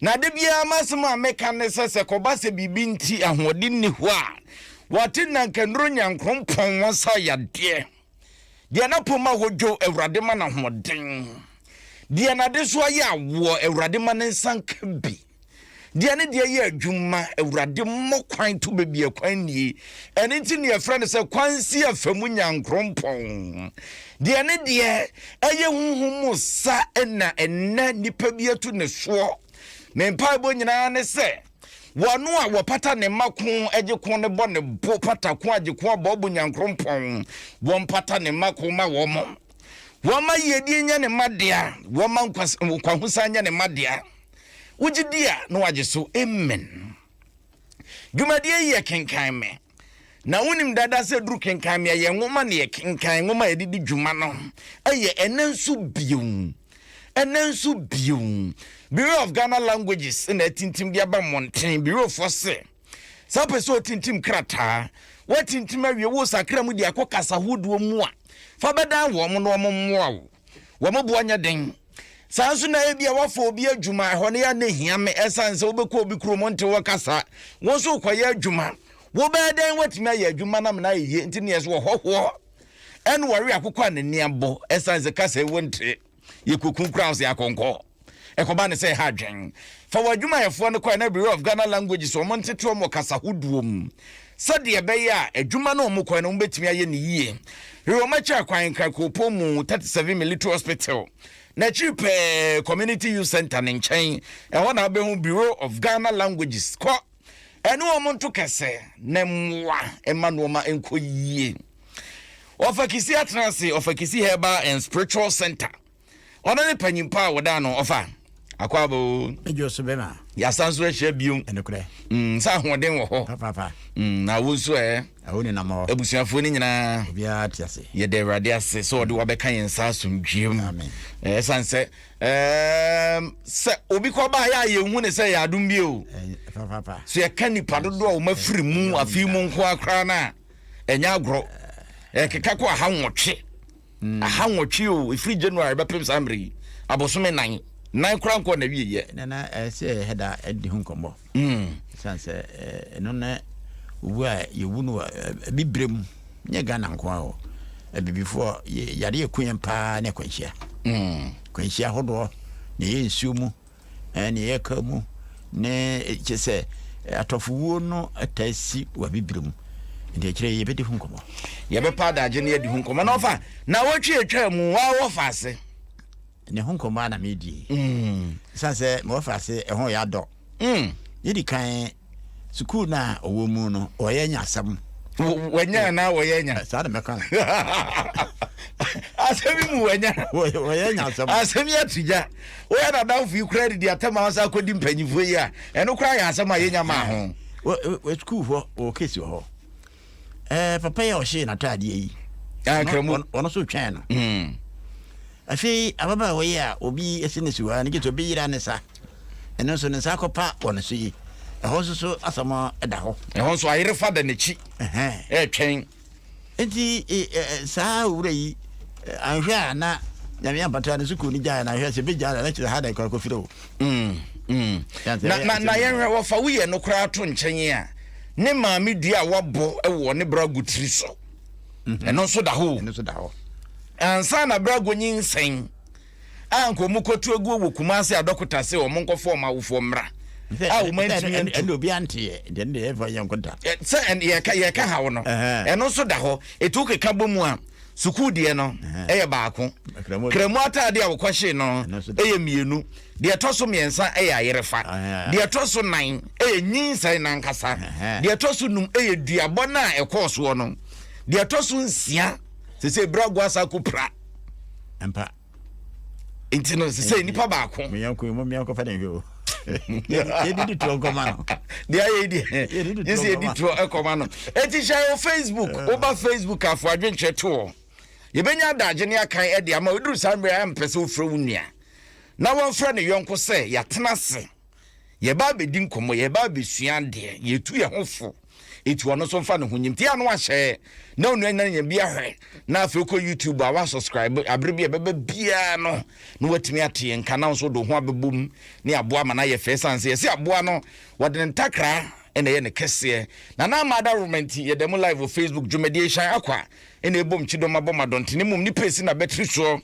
Na da biara m'asɛm a meka ne sɛ, sɛ kɔba sɛ biribi nti ahoɔden nni hɔ a, wɔate nna nka nnuru Nyankoropɔn wɔn sa yadeɛ. Deɛ n'apɔm ma hɔ dwo, Awurade ma no ahoɔden. Deɛ n'adesoa yɛ awoɔ, Awurade ma ne nsa nka bi. Deɛ ne deɛ yɛ adwuma, Awurade mmɔ kwan to baabi a kwan nnie. Ɛno nti na yɛfrɛ no sɛ Kwansi Afamu Nyankoropɔn. Deɛ ne deɛ ɛyɛ honhom mu sa na ɛnnɛ nipa bi atu ne soɔ. Me mpaebɔ nyinaa ne sɛ wɔno a wɔpata ne mma ko gye ko ne bɔ ne bo pata ko agye ko abɔ bo nyankorompɔn wɔmpata ne mma ko ma wɔn wɔma yiedie nyɛ ne mma dea wɔma nkwahosan nyɛ ne mma dea wogye di a na wagye so amen dwumadie yi yɛ kenkan me Na wonim dada sɛ duru kenkan nea yɛn nwoma ne yɛkenkan nwoma a yɛde di dwuma no yɛ ɛnɛ nso bio. Ɛnɛ nso bio. Bureau of Ghana Languages na atintim de aba mmɔnten. Bureaufoɔ se, sɛ wopɛ sɛ wotintim krataa, woatintim awie, wosakra mu de akɔ kasa hodoɔ mu a, fa bɛdan wɔn na wɔmmoa wo. wɔn boɔ nyɛ den. Saa nso na ebia wafa obi adwuma, ɛhɔ no yɛ ne hia me ɛsan sɛ wobɛkɔ obi kuro mu nte wɔ kasa, wo nso wokɔyɛ adwuma, wobɛyɛ dɛn watumi ayɛ adwuma no amena ayɛ yie nti neɛ sɛ wɔhɔhoɔ ɛne wɔwe akokɔ a n'ani abɔ ɛsan sɛ kasa yi wonte, yɛkɔku koraa wo sɛ akɔnkɔ. Ɛkɔbaa no sɛ ɛha adwen fa wɔn adwumayɛfoɔ no kɔɛ na Bureau of Ghana Languages wɔn ntete wɔn wɔ kasa hodoɔ mu sɛdeɛ ɛbɛyɛ a adwuma no a wɔn kɔɛ no wɔn bɛtumi ayɛ no yie. Wɔn akyi akwan nkran Kuropɔn mu 37 Military Hospital na akyiri pɛɛ Community Youth Centre no nkyɛn ɛhɔ na wobɛhu Bureau of Ghana Languages kɔ ɛne wɔn nto kɛsɛ na mmoa ɛma nnoɔma nkɔ yie. Ɔfakisi atenase Ɔfakisi Herbal and Spiritual Centre. Ɔno ne panyin pa a wɔdaa no ɔfa. Akwaaba o. Edwo so bɛma. Yɛasan so ahyia bio. Ɛnokorɛ. Mm, sɛ ahoɔden wɔ hɔ. Papaapa. Mm, na wo nso ɛ. Awo ne nam hɔ. Abusuafoɔ no nyinaa. Obiara te ase. Yɛda Awurade ase sɛ ɔde wabɛka yɛn nsa asomdwoeɛ mu. Amen. Ɛsan sɛ, ɛɛm, sɛ obi kɔ baa yɛ a yɛnhu ne sɛ yɛ adom bio. Papaapa. So yɛka nipa dodoɔ a wɔn afiri mu afei mu nko akora no a, ɛnyɛ agorɔ. Ɛkeka kɔ aha nwɔtwe. mm. aha nwɔtwe o ɛfiri january bɛpem saa mmerɛ yi abosome nan nan kora nkɔ na wieyɛ nana ɛsɛ eh, ɛda ɛde ho nkɔmmɔ mm. ɛsiane sɛ eh, ɛno na owu a yɛwu no eh, bibire mu nyɛ ghana nko a o abibifoɔ yare ɛku yɛn paa ne akwanhyia mm. kwanhyia hodoɔ na ɛyɛ nsuo mu Ɛɛ, nea yɛka mu ne kyerɛ sɛ atɔfowuo no taa si wɔ Abibire mu. Nti ɛkyerɛ yɛ yɛbɛdi ho nkɔmmɔ. Yɛbɛpa adagye na adi ho nkɔmmɔ na ɔfa nawɔtwe atwa mu waa wɔfa ase. Ne ho nkɔmmɔ a na meredie. Mm. Ɛsiane sɛ mewɔfa ase ɛho yɛ adɔ. Mm. Yɛdi kan sukuu no a ɔwɔ mu no ɔyɛ nya asɛm wɔnya anaa wɔyɛ nya saa na mɛka no asɛm yi mu wɔnya wɔyɛ nya asɛm asɛm yi ato gya woyɛ nadamfo yi koraa didi atɛm a wɔsa akɔdi mpanyifoɔ yi a ɛno koraa yɛ asɛm a yɛnya maa ho sukuufoɔ wɔ kesi wɔ hɔ ɛɛ papa yi a ɔhyee n'ataadeɛ yi ah, ɔno nso twɛn no hmm. afei ababaawa yi a obi asi ne siwaa no gye sɛ obi yera ne sa ɛno nso ne nsa akɔpa wɔ ne so yi ɛhɔ nso so asɛm da hɔ ɛhɔ nso ayere fa da n'akyi ɛretwɛn nti e, e, e, saa owura yi anhwɛ a na nyame ampata no sukuu no gyae na ahwɛ sɛ bɛgya na nakyerɛ ha da ɛkɔ akɔfiri o hmm, hmm. na yɛnhwɛ wɔfa woyɛ no koraa to nkyɛn a ne maame dua a wabɔ wɔ ne brago tiri so mhm. ɛno nso da hɔ ɛno nso da hɔ ansa na brago nyinsɛn a nka wɔn kɔtu aguo wɔ kumase a dɔkota se wɔn nkɔfɔ wɔn awofoɔ mmra a wɔn antumi antu ɛna obi anteɛ deɛ deɛ ɛfa yɛn nkɔda sɛ yɛka yɛka ha wɔ no ɛno nso da hɔ etu keka bɔ mu a sukuu deɛ no ɛyɛ baako kramu ataade a wɔkɔhyee no ɛyɛ mmienu Deɛ ɛtɔ so mmiɛnsa yɛ ayerefa. Deɛ ɛtɔ so nan yɛ nyinsɛn no ankasa. Deɛ ɛtɔ so num yɛ duabɔ no a ɛkɔɔ soɔ no. Deɛ ɛtɔ so nsia, sesei berɛ agu asa akɔ pira. Mpa. Nti no, sesei nipa baako. Meyanko yi mo meyankɔ fɛ ne nhwɛ o. Yɛde di toɔ nkɔma no. Deɛ ayɛ yi deɛ, gye sɛ yɛdi toɔ nkɔma no. Eti hyɛ yɛ Facebook, ah. woba Facebook afo adwenkyerɛ toɔ. Yɛbɛnya adagye ne akan de ama wo. Ɛduru saa mmerɛ a ɛmpɛ sɛ wofrɛ wo nua. na wafrɛ ne yɔnko sɛ yɛatena ase, yɛreba abɛdi nkɔmmɔ, yɛreba abɛsua adeɛ, yɛtu yɛn ho fo, ɛti ɔno nso mfa ne ho nyim. Ti a na wahyɛ na onua nyina nya bi ahwɛ na afei wokɔ YouTube a wasubscribe abere bi a ɛbɛba biara no na watumi ate yɛn nka na nso de ho abɛbɔ mu ne aboa ma no ayɛ fɛ sane sɛ yɛsɛ aboa no wɔde ne ntakra ɛna ɛyɛ ne kɛseɛ na na ama adawoma nti yɛda mu live wɔ Facebook dwumadie hyɛn akwa Ena ebom kyidɔm abɔ ma dɔnten emom nipa esi na bɛtiri soɔ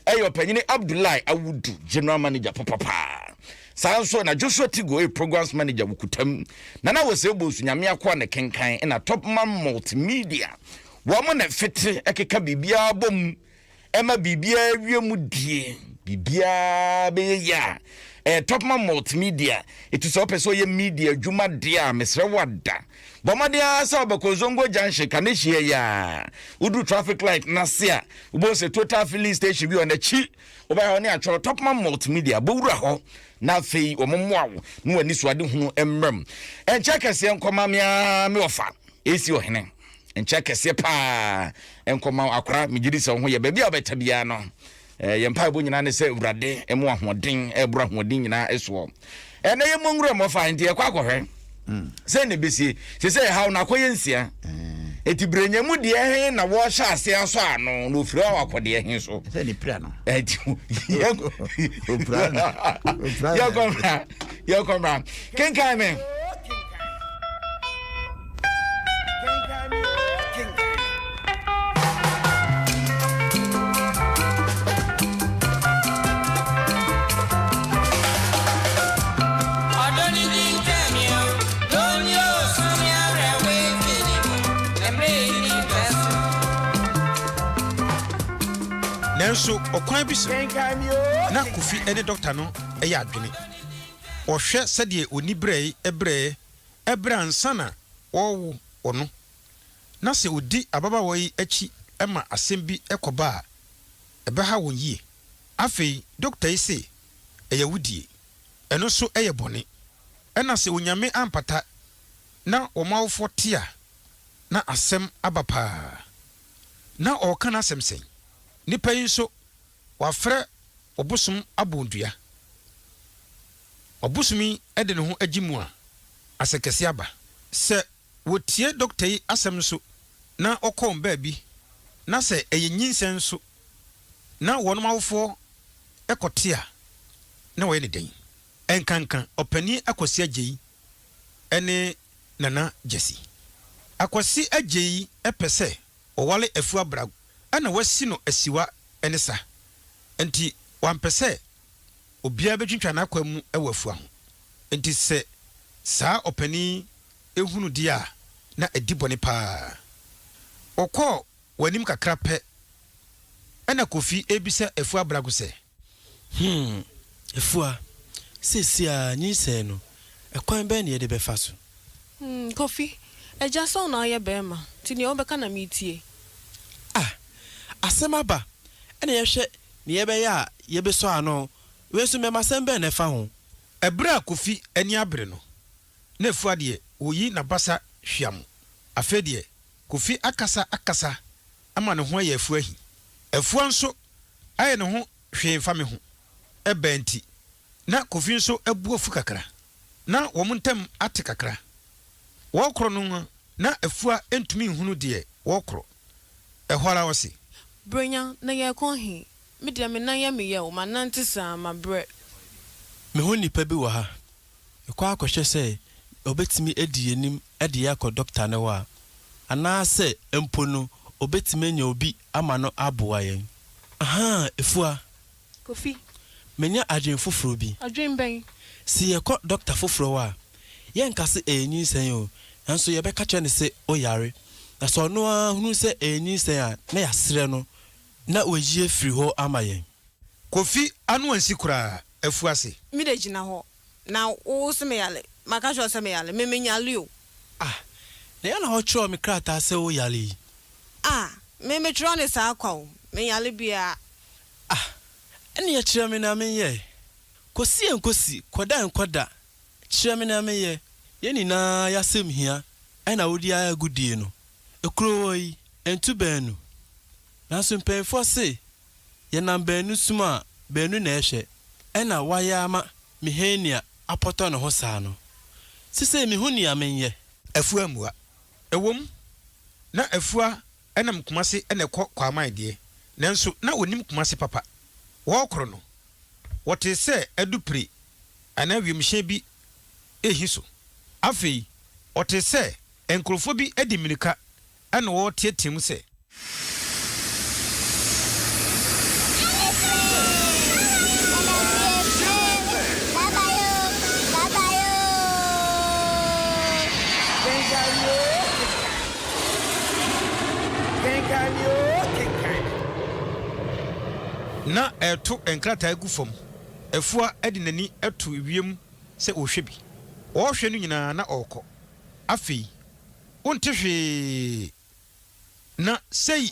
ɛyɛ ɔpanyini Abdullahi Awudu General Manager papa paa saa nso ena Joshua Tigo ɛyɛ Programs Manager wo kutam Nana Wese Obosu Nyame akoa ne kenkan ena Top Man Multimedia wɔn na ɛfete ɛkeka biribiara bɔ mu Ɛma biribiara wie mu die. Biribiara bɛyɛ yie a. Ɛyɛ Topman Multimedia. Ɛti sɛ wopɛ sɛ ɔyɛ media adwuma deɛ a, mesrɛ wo ada. Bɔ mmɔden ara sɛ wobɛkɔ Ozongo Junction, Kaneshie yɛ a. Woduru traffic light no ase a, wobɛhu sɛ Total Filling Station bi wɔ n'akyi. Wobɛyɛ hɔ ne atwerɛ Topman Multimedia. Bɛwura hɔ na afei wɔmmoa wo na w'anisoadehunu mmra mu. Ɛnkyɛ kɛseɛ nkɔma me ara me wɔfa, AC Ɔhene. nkyɛ kɛseɛ paa nkɔma wo akora megye di sɛ wo ho yɛ baabi a wobɛta biara no eh, yɛ mpaebɔ nyinaa ne sɛ awurade ɛmo ahoɔden ɛboro ahoɔden nyinaa ɛsoɔ ɛnɛ yɛ mmɔ nwura mmɔfa nti yɛkɔ akɔhwɛ hmm. sɛ na ɛbɛsie sɛ sɛ ɛhaw no akɔyɛ nsia ɛti hmm. berɛnya mu deɛ he na wɔhyɛ aseɛ asɔ ano na ɔfiri a wakɔdeɛ he so yɛkɔmmra kenkan me Nanso ɔkwan bi so na Kofi ne dɔkta no yɛ adwene. Wɔhwɛ sɛdeɛ oniberɛe brɛɛ ɛberɛ a ansa na wɔrewo ɔno, na sɛ ɔdi ababaawa yi akyi ma asɛm bi kɔba a, ɛbɛha wɔn yie. Afei, dɔkta yi se ɛyɛ awudie. Ɛno nso yɛ bɔne. Ɛna sɛ Onyame ampata na wɔn awofoɔ te a, na asɛm aba paa. Na ɔreka n'asɛm sɛn? Nipa yi nso, wafrɛ ɔbosom abɔndua. Ɔbosomi de ne ho gye mu a, asɛnkɛse aba. Sɛ wɔtie dɔkta yi asɛm nso na wɔkɔ wɔn baabi, na sɛ ɛyɛ nyinsɛn nso na wɔnom awofoɔ kɔte a, na wɔyɛ no dɛn? Ɛnkanka Ɔpanin Akwasi Agyei ne Nana Gyasi. Akwasi Agyei pɛ sɛ ɔware Afua Brag na wasi no asiwa ne sa, nti wampɛ sɛ obiara bɛtwitwa n'akwan mu wɔ afua ho. Enti sɛ saa ɔpanin yi hunu deɛ a, na ɛdi bɔne pa ara. Wɔkɔɔ wɔn anim kakra pɛ, ɛnna Kofi rebisa afua Abrago sɛ. Hmm, afua, seesei ara nyinsɛn no, ɛkwan bɛn na yɛde bɛfa so? Hmm, Kofi, agya sɛ wo na woyɛ barima, nti deɛ wobɛka na meretie. Ah, asɛm aba, ɛnna yɛhwɛ Nea ɛbɛyɛ a yebesɔ ano. Wei nso mmɛma asɛm bɛn na ɛfa ho? Bere a Kofi ani abere no, na Afua deɛ, ɔreyi n'abasa hwam. Afei deɛ, Kofi akasa akasa ama ne ho ayɛ Afua ahi. Afua nso ayɛ ne ho hwee mfa me ho. Ɛbaa nti, na Kofi nso abu afu kakra. Ná wɔn ntam ate kakra. Wɔrekorɔ no, na Afua ntumi nhunu deɛ wɔrekorɔ. Ɛhɔ ara ɔse. Brenya, na yɛrekɔ he? Me deɛ me nan yɛ me yaw, manante saa, mabrɛ. Meho nnipa bi wɔ ha. Yɛkɔ akɔhwɛ sɛ ɔbɛtumi adi yɛanim de yɛ akɔ dɔkta no hɔ a, anaasɛ mpo no ɔbɛtumi anya obi ama no aboa yɛn. Ahaa, Afua, Kofi, Manya adwene foforɔ bi. Adwene bɛn? Se yɛkɔ dɔkta foforɔ hɔ a, yɛnka se ɛyɛ nyinsɛn oo, nanso yɛbɛka kyerɛ no se woyare. Na se ɔno ara hunu sɛ ɛyɛ nyinsɛn a, na yɛasrɛ no na wayi afiri hɔ ama yɛn. Kofi ano ansi koraa, afu ase. Me de gyina hɔ, na wo se meyare? Maka akyerɛ wo sɛ meyare? Me menyare o. Ah, na yɛn na wokyerɛw me krataa sɛ woyare yi? Ah, me metwerɛw no saa kwa o, menyare biara. Ah, ɛneɛ kyerɛ me nea menyɛ Kɔsi nkɔsi, kɔda nkɔda Kyerɛ me nea menyɛ Yɛn nyinaa y'asɛm hia Ɛna wodi ara agodie no Ekuro hɔ yi, ɛntu baanu Nanso mpaninfoɔ se Yɛnam baanu som a, baanu na ɛhwɛ Ɛna wayɛ ama me Henia apɔtɔ ne ho saa no Sesei mehu nea menyɛ. Afua mua. Ɛwom, na afua Ɛnam Kumasi na ɛkɔ Kwaaman deɛ, nanso na wɔnim Kumasi papa. Wɔrekɔr no, wɔtee sɛ adupire anaa wiemhyɛn bi rehi so. Afei wɔtee sɛ nkurɔfoɔ bi de mmirika na wɔreteateam sɛ. Kenkan me oo, kenkan me. Na ɛreto nkrataa gu fam. Afua de n'ani to wiem sɛ ɔrehwɛ bi. Ɔrehwɛ no nyinaa na ɔrekɔ. Afei, wonte hwee. Na sei.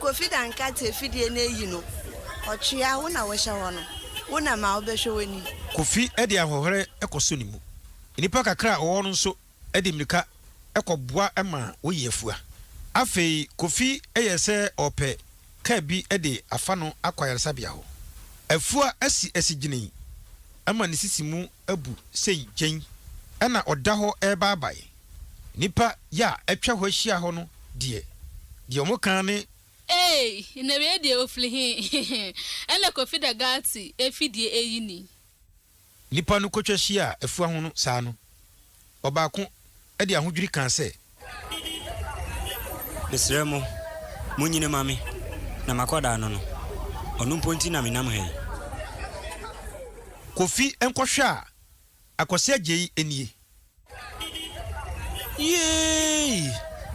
Kofi da nkate afidie no ayi no ɔtwea wo na wohyɛ hɔ no wo na ma wobɛhwɛ w'anim. Kofi de ahoɔherɛ kɔ so ne mu. Nnipa kakra a wɔwɔ hɔ no nso de mmirika kɔ boa ma woyi afua. Afei Kofi yɛ sɛ ɔrepɛ car bi de afa no akɔ ayaresabea hɔ. Afua asi asi gyinii ma ne sisi mu abu sei gyenn ɛna ɔda hɔ rebaabae. Nnipa yɛ a atwa hɔ ahyia hɔ no deɛ, deɛ wɔka ara ne. Eei! Na wei deɛ ɔfiri he? Ɛna Kofi da Gatti afidie ayi ni. Nnipa no kɔtwa hyiaa afua ho no saa no, ɔbaako de ahodwiri kaa sɛ. Mesrɛ mo, monyi no ma me na m'akwadaa no no. Ɔno mpo nti na menam ha yi. Kofi nkɔhwɛ a. Akwasi Agyei nie. Yeeii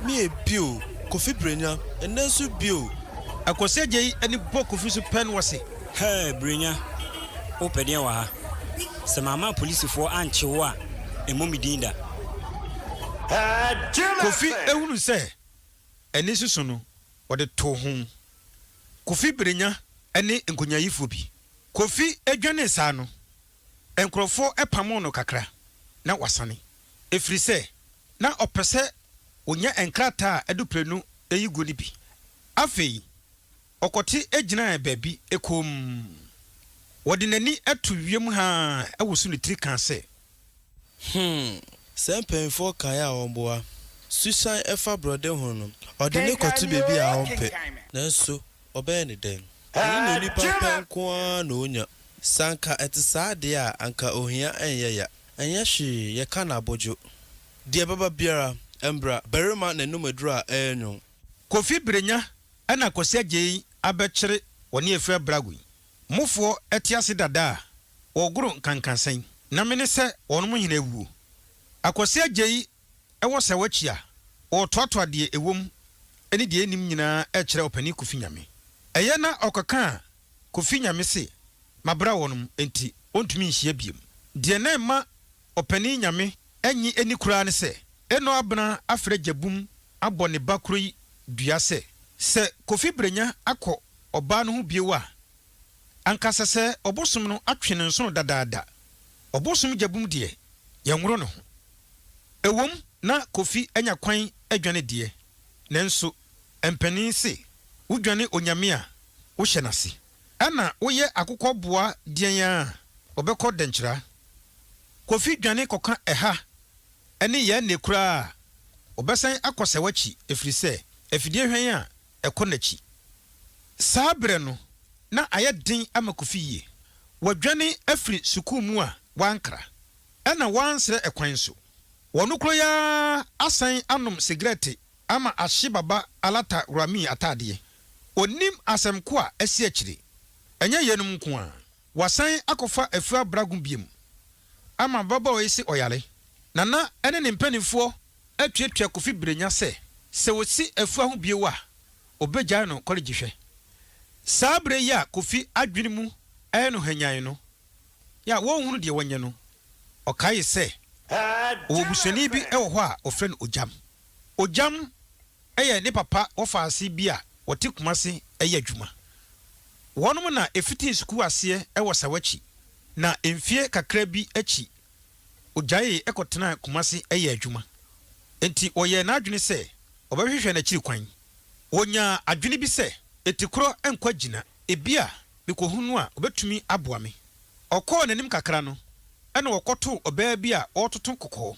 mie bio Kofi Brenya ɛnɛ nso bio. Akwasi Agyei ani bɔ Kofi so pɛn wɔ se. Hɛɛ Brenya wo pɛ deɛn wɔ ha? Sɛ mamma apolisifoɔ ankye wo a ɛmmɔ me din da. Kofi hunu sɛ ani soso no ɔde too ho. Kofi Brenya ne nkonyaayifoɔ bi. Kofi dwanee saa no Nkurɔfoɔ pamoo no kakra na wasane, ɛfiri sɛ na ɔpɛ sɛ ɔnya nkrataa a ɛdo prenu yi gu no bi. Afei ɔkɔte gyinaa baabi komm. Ɔde n'ani to wiem haa woso ne tiri kaa sɛ. Hmm, sɛ mpanyimfoɔ kae a wɔboa. Susan fa borɔde ho no, ɔde no kɔto baabi a ɔmpɛ. Nanso Ɔbɛyɛ no dɛn? Ɛnyɛ nea onipa pɛ nko ara na onya. Sɛ anka ɛte saa de a, anka ohia nyɛ ya. Ɛnyɛ hwee, yɛka no abodwo. Deɛ ɛbɛba biara, ɛmbra. Barima na ɛnom aduru a ɛyɛ nwonn. Kofi Berenya na Kwasi Agyei abɛkyere wɔne afiri abrago yi mufoɔ te ase dada a wɔgoro nkankansɛn na mene sɛ wɔnom hene awuo. Akwasi Agyei Ɛwɔ sɛ wɔkyi a wɔtoatoa deɛ ɛwom ne deɛ ɛnnim nyinaa kyerɛ ɔpanin Kofi Nyame. Ɛyɛ na ɔkɔkaa Kofi Nyame se mabra wɔnom enti wɔntumi nhyia biom. Deɛ na ɛma ɔpanin Nyame nnye ɛni koraa ne sɛ Eno Abena afrɛ Gyabum abɔ ne ba koro yi dua sɛ, sɛ Kofi Brenya akɔ ɔbaa no ho bio a Anka sɛ sɛ ɔbosom no atwe ne nsono dadaada. Ɔbosom gyabum deɛ, yɛnworo ne ho. Ɛwom, na Kofi anya kwan adwane deɛ, nanso mpanin se wodwane Onyame a, wohyɛ no ase. Ɛna woyɛ akokɔ boa deɛn ara a, ɔbɛkɔ dɛnkyira. Kofi dwane kɔka ɛha ne yɛn nne koraa a, ɔbɛsan akɔ sɛ w'akyi, ɛfiri sɛ afidie hwan a ɛkɔ n'akyi. Saa berɛ no, na ayɛ den ama Kofi yie. Wadwane afiri sukuu mu a wankra, ɛna wansrɛ ɛkwan nso. Ɔno koro yi ara asan anom sigarɛte ama ahye Baba Alata Rami ataadeɛ. Ɔnnim asɛm ko a asi akyire. Ɛnyɛ yeinom nko ara. Wɔasan akɔfa Afua Brago biom ama ababaawa yi se ɔyare. Nana ne ne mpanimfoɔ atuatua Kofi Brenya sɛ, sɛ wɔsi Afua ho bio a, wɔbɛgyae no kɔlegye hwɛ. Saa berɛ yi a Kofi adwene mu yɛ no hannyann no, yɛ a wɔnhunu deɛ wɔnyɛ no, ɔkaee sɛ, ɔwɔ busuani bi wɔ hɔ a wɔfrɛ no Ogyam. Ogyam yɛ ne papa wɔfaase bi a wɔte Kumasi yɛ adwuma. Wɔnom na ɛfitii sukuu aseɛ wɔ Sawakyi na mfie kakra bi akyi ɔgyaee kɔtenaa Kumasi yɛɛ adwuma. Enti ɔyɛɛ n'adwene sɛ ɔbɛhwehwɛ n'akyiri kwan. Ɔnyaa adwene bi sɛ, Etikorɔ nkwagyi na ebia mekɔhunu no a ɔbɛtumi aboa me. Ɔkɔɔ n'anim kakra no na ɔkɔtoo ɔbaa bi a ɔretoto kɔkɔɔ.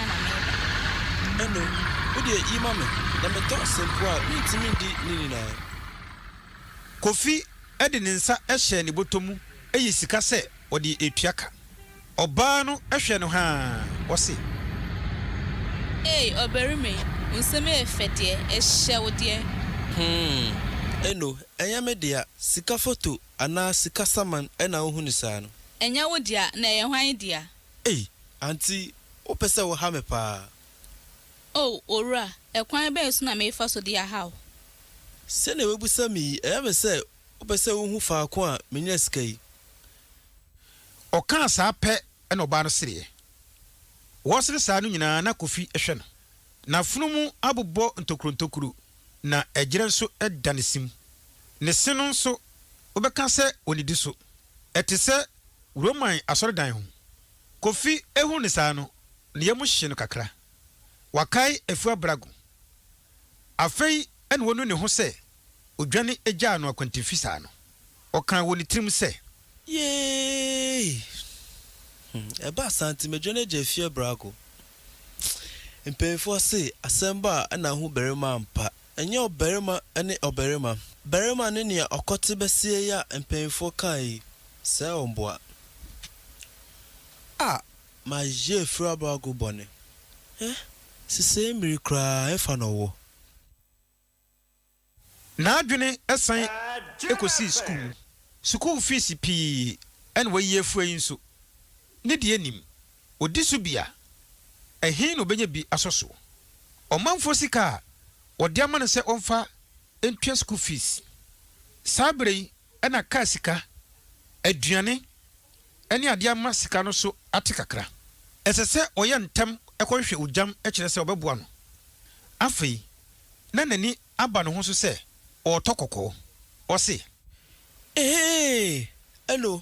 Hena na mereba? Ɛnne, wo deɛ yi ma me. Na me dɔ sɛ mpo a mentumi ndi ne nyinaa. Kofi de ne nsa hyɛɛ ne bɔtɔ mu yi sika sɛ ɔde retua ka. Ɔbaa no hwɛ no haa, ɔse. Ei, ɔbarima yi, wo nsɛm yɛ fɛ deɛ, ɛhyɛ wo deɛ. Hmm, Eno, ɛnyɛ me dea. Sika foto anaa sika saman na wohunu saa no? Ɛnyɛ wo dea, na ɛyɛ hwan dea? Ei, Aunty, wopɛ sɛ woha me paa. Oh, owura, ɛkwan bɛn so na merefa so de ahaw? Sɛnea woabisa me yi, ɛyɛ me sɛ wopɛ sɛ wuhu faako a minya sika yi. Ɔkaa saa pɛ na ɔbaa no sereɛ. Wɔresere saa no nyinaa na Kofi hwɛ no. N'afunumu abobɔ ntokurontokuro na ɛgyerɛ nso da ne se mu. Ne se no nso, wobɛka sɛ ɔnnidi so. Ɛte sɛ Roman asɔredan ho. Kofi hu no saa no, ne yam hye no kakra. Wakae Afua Brago. Afei na onu ne ho sɛ odwane gyaa no akwantemfi saa no. Ɔkaa wɔ ne tirim sɛ. Yee! Ɛbaa saa nti madwane agya Afua Brago. Mpanimfoɔ se asɛm bɔ a na ahu barima ampa. Ɛnyɛ ɔbarima ne ɔbarima. Barima ne nea ɔkɔte bɛseɛ yi a mpanyimfoɔ kae yi, sɛɛ wo mboa. Ah! Mayɛ afirabago bɔne. Eh! Sesei mmiri koraa ɛfa na ɔwɔ. N'adwene san kɔsii sukuu. Sukuu fees pii na wayi afua yi nso. Ne deɛ nim, ɔdi so bi a, ɛhe na ɔbɛnya bi asɔ so? Ɔmanfoɔ sika a wɔde ama no sɛ ɔmfa ntua sukuu fees. Saa berɛ yi na kaa sika, aduane ne adeɛ ama sika no so ate kakra. Ɛsɛ sɛ ɔyɛ ntɛm kɔhwehwɛ ogyam kyerɛ sɛ ɔbɛboa no. Afei, na n'ani Aba ne ho so sɛ ɔɔtɔ kɔkɔɔ. Ɔse. Eheeee ɛno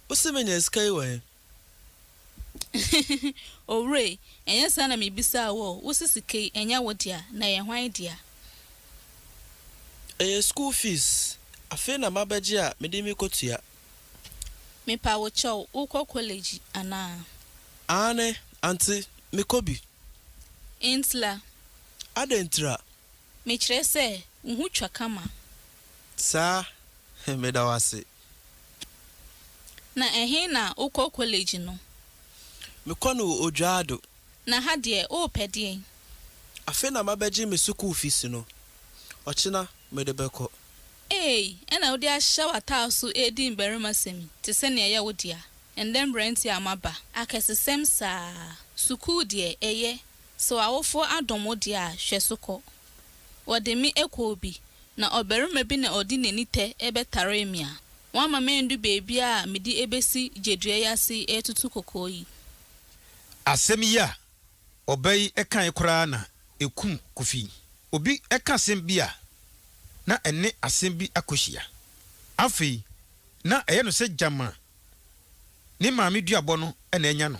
wose menya sika yi wɔ he? Owura ei, ɛnyɛ saa na mebisaa wo o, wose sika yi ɛnyɛ wo dea, na ɛyɛ hwan dea? Ɛyɛ school fees, afei na mabɛgye a mede mekotua. Mepa wo kyɛw, wokɔ kɔlɛgyi anaa? Aane, ante, mekɔ bi. Ntira. Adɛn ntira? Mekyerɛ sɛ, wo ho twa kama. Saa, meda wo ase. Na ɛhe na wokɔ kɔlege no? Mekɔ no wɔ Odwoado. Na ha deɛ, worepɛ deɛn? Afei na mabɛgye me sukuu fees no. Ɔkyena, mede bɛkɔ. Eei, ɛna wode ahyɛ w'ataar so redi mmarimasɛm yi te sɛ nea ɛyɛ wo dea? Ɛnnɛ mmeranteɛ a moaba. Akɛsesɛm saa. Sukuu deɛ, ɛyɛ. Sɛ w'awofoɔ adom wo deɛ a, hwɛ so kɔ. Wɔde me ɛkɔ obi, na ɔbarima bi na ɔde n'ani tɛ ɛbɛtaree me a, wamma mandu baabi a mede ɛbɛsi gyedua yi ase yi ɛretutu kokoo yi. Asɛm yi a ɔbaa yi kaeɛ koraa na ɛkum Kofi. Obi ka asɛm bi a, na ɛne asɛm bi akɔhyia. Afei, na ɛyɛ no sɛ gyama ne maame duabɔ no na anya no.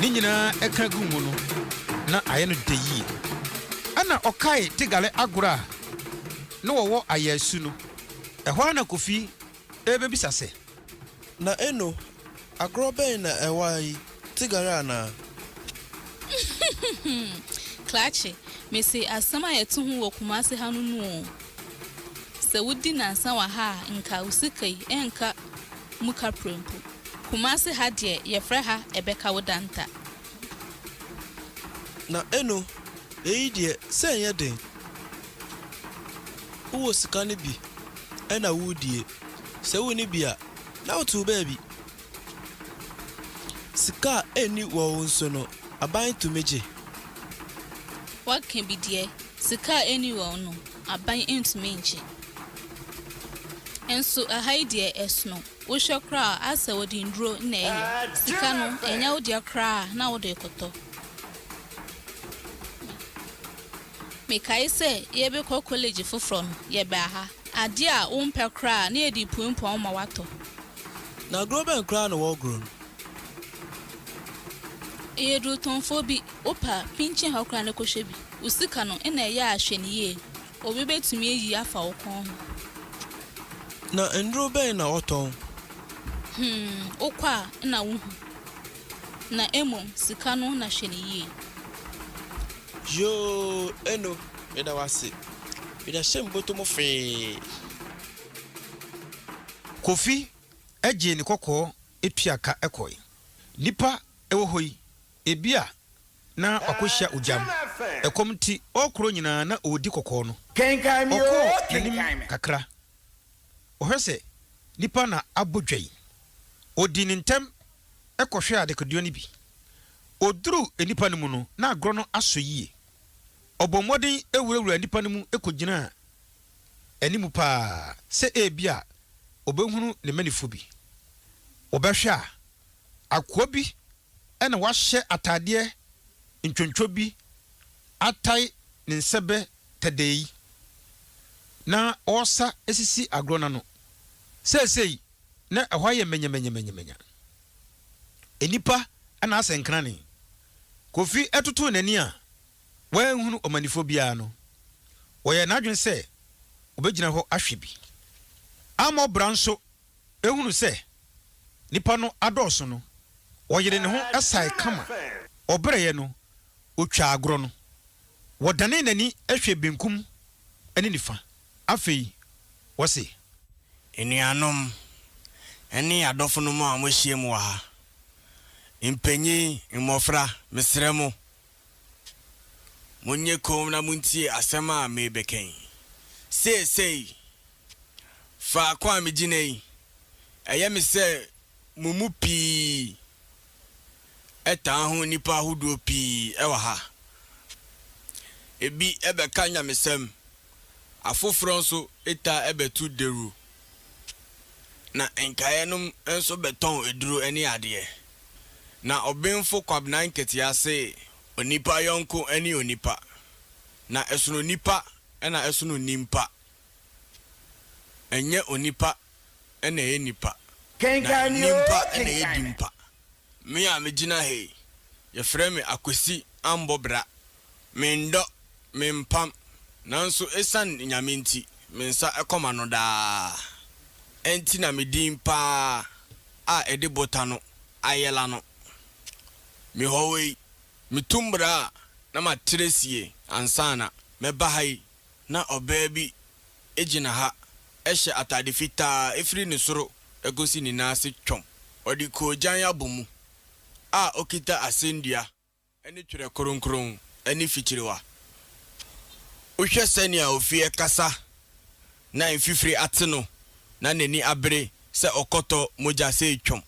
Ne nyinaa ɛka guu mu no, na ayɛ no dɛ yie. Ɛnna ɔkaee Tigale agorɔ a na wɔwɔ Ayasu no. Ɛhɔ ara na Kofi rebɛbisa sɛ. Na Eno, agorɔ bɛn na ɛwɔ ha yi, Tigale anaa? Klakye, mese asɛm a yɛto ho wɔ Kumase ha no nu oo. Sɛ wodi nnansa wɔ ha a, nka wo sika yi, ɛrenka mu ka prɛmpo. Kumase ha deɛ yɛfrɛ ha ɛbɛka wo danta. Na eno eyi deɛ sɛ ɛnyɛ den wowɔ sika no bi na woredie sɛ wonni bi a na wote wo baabi. Sika a ɛnni wɔn so no aban tumi gye. Waka bi deɛ Sika a ɛnni hɔ no, aban ntumi nnkye. Nso ha yi deɛ ɛsono. Wohwɛ koraa a, ayɛ sɛ wɔde nnuro na ɛyɛ. Sika no, ɛnyɛ wo deɛ koraa na wode rekɔtɔ. Mekae sɛ yɛrebɛkɔ kɔlege foforɔ no, yɛbaa ha. Adeɛ a wompɛ koraa na yɛde puapua wo ma woatɔ. Na agorɔ bɛn koraa na wɔregoro no? Yɛyɛ adurutɔnfoɔ bi. Wopɛ a, pinkyin ha koraa na kɔhwɛ bi. Wo sika no na ɛyɛ a hwɛ no yie, obi bɛtumi ayi afa wo kɔn ho. Na nnuro bɛn na wɔtɔn? Hmm, wokɔ a na wohu. Na mmom sika no na hwɛ no yie. Yoo, Eno, meda wo ase. Meda hyɛ me bɔtɔ mu fee. Kofi gyee ne kɔkɔɔ tua ka kɔe. Nnipa wɔ hɔ yi. Ebia na wakohyia ogyam. Ɛkɔm nti, ɔrekorɔ nyinaa na ɔredi kɔkɔɔ no. Ɔkɔɔ n'anim kakra. Ɔhwɛ sɛ nnipa na abɔ dwa yi. Ɔdii ne ntɛm kɔhwɛɛ adekodeɛ no bi. Ɔduruu nnipa no mu no, na agorɔ no asɔ yie. Ɔbɔɔ mmɔden wurawuraa nnipa no mu kɔgyinaa anim pa ara sɛ ebia ɔbɛhunu ne mmanimfoɔ bi. Wɔbɛhwɛ a, Akoa bi na wahyɛ ataadeɛ ntwontwo bi atae ne nsɛbɛ tɛdɛɛ yi na ɔresa sisi agorɔ no ano. Seesei na ɛhɔ ayɛ manyamanyamanyamanya. Nnipa na asɛ nkrane. Kofi totoo n'ani a wanhunu ɔmannifoɔ biara no, ɔyɛɛ n'adwene sɛ ɔbɛgyina hɔ ahwɛ bi. Ammɔ bra nso ehunu sɛ nnipa no adɔɔso no, ɔyeree ne ho sae kama. Ɔbrɛeɛ no, ɔtwaa agorɔ no. Ɔdanee n'ani hwɛɛ benkum ne nifa. Afei ɔse. Anuanom ne adɔfonom a moahyiam wɔ ha, mpanyin, mmɔfra, mesrɛ mo, Monyɛ komm na muntie asɛm a merebɛka yi. Seesei, faako a migyina yi, ɛyɛ me sɛ mo mu pii taa ho nnipa ahodoɔ pii wɔ ha. Ebi bɛka nyamesɛm, afoforɔ nso taa bɛto dawuro na nkaeɛ nom nso bɛtɔn aduro ne adeɛ. Na ɔbenfo Kwabena Nketeah se onipa yɔnko ne onipa, na ɛsono nnipa na ɛsono nnimpa, ɛnyɛ onipa na ɛyɛ nnipa, na nnimpa na ɛyɛ dimpa. Me a megyina ha yi, yɛfrɛ me Akwasi Ambɔ Bra. Mendɔ, mempam, nanso esiane Nyame nti, me nsa kɔ m'ano daa. Ɛnti na me din pa ara a ɛde bota no ayɛ la no. Mehɔwe yi, metu mbra a na matrɛ sie ansa na mɛba ha yi na ɔbaa bi gyina ha hyɛ atade fitaa firi ne soro kɔsi ne nan ase twɔm. Ɔde koogyan abɔ mu a ɔkita asɛndua. ne Twerɛ Kronkron ne fikyiriwa. Wohwɛ sɛnea ofie kasa na mfifire ate no na n'ani abere sɛ ɔkɔtɔ mogya sɛ retwam.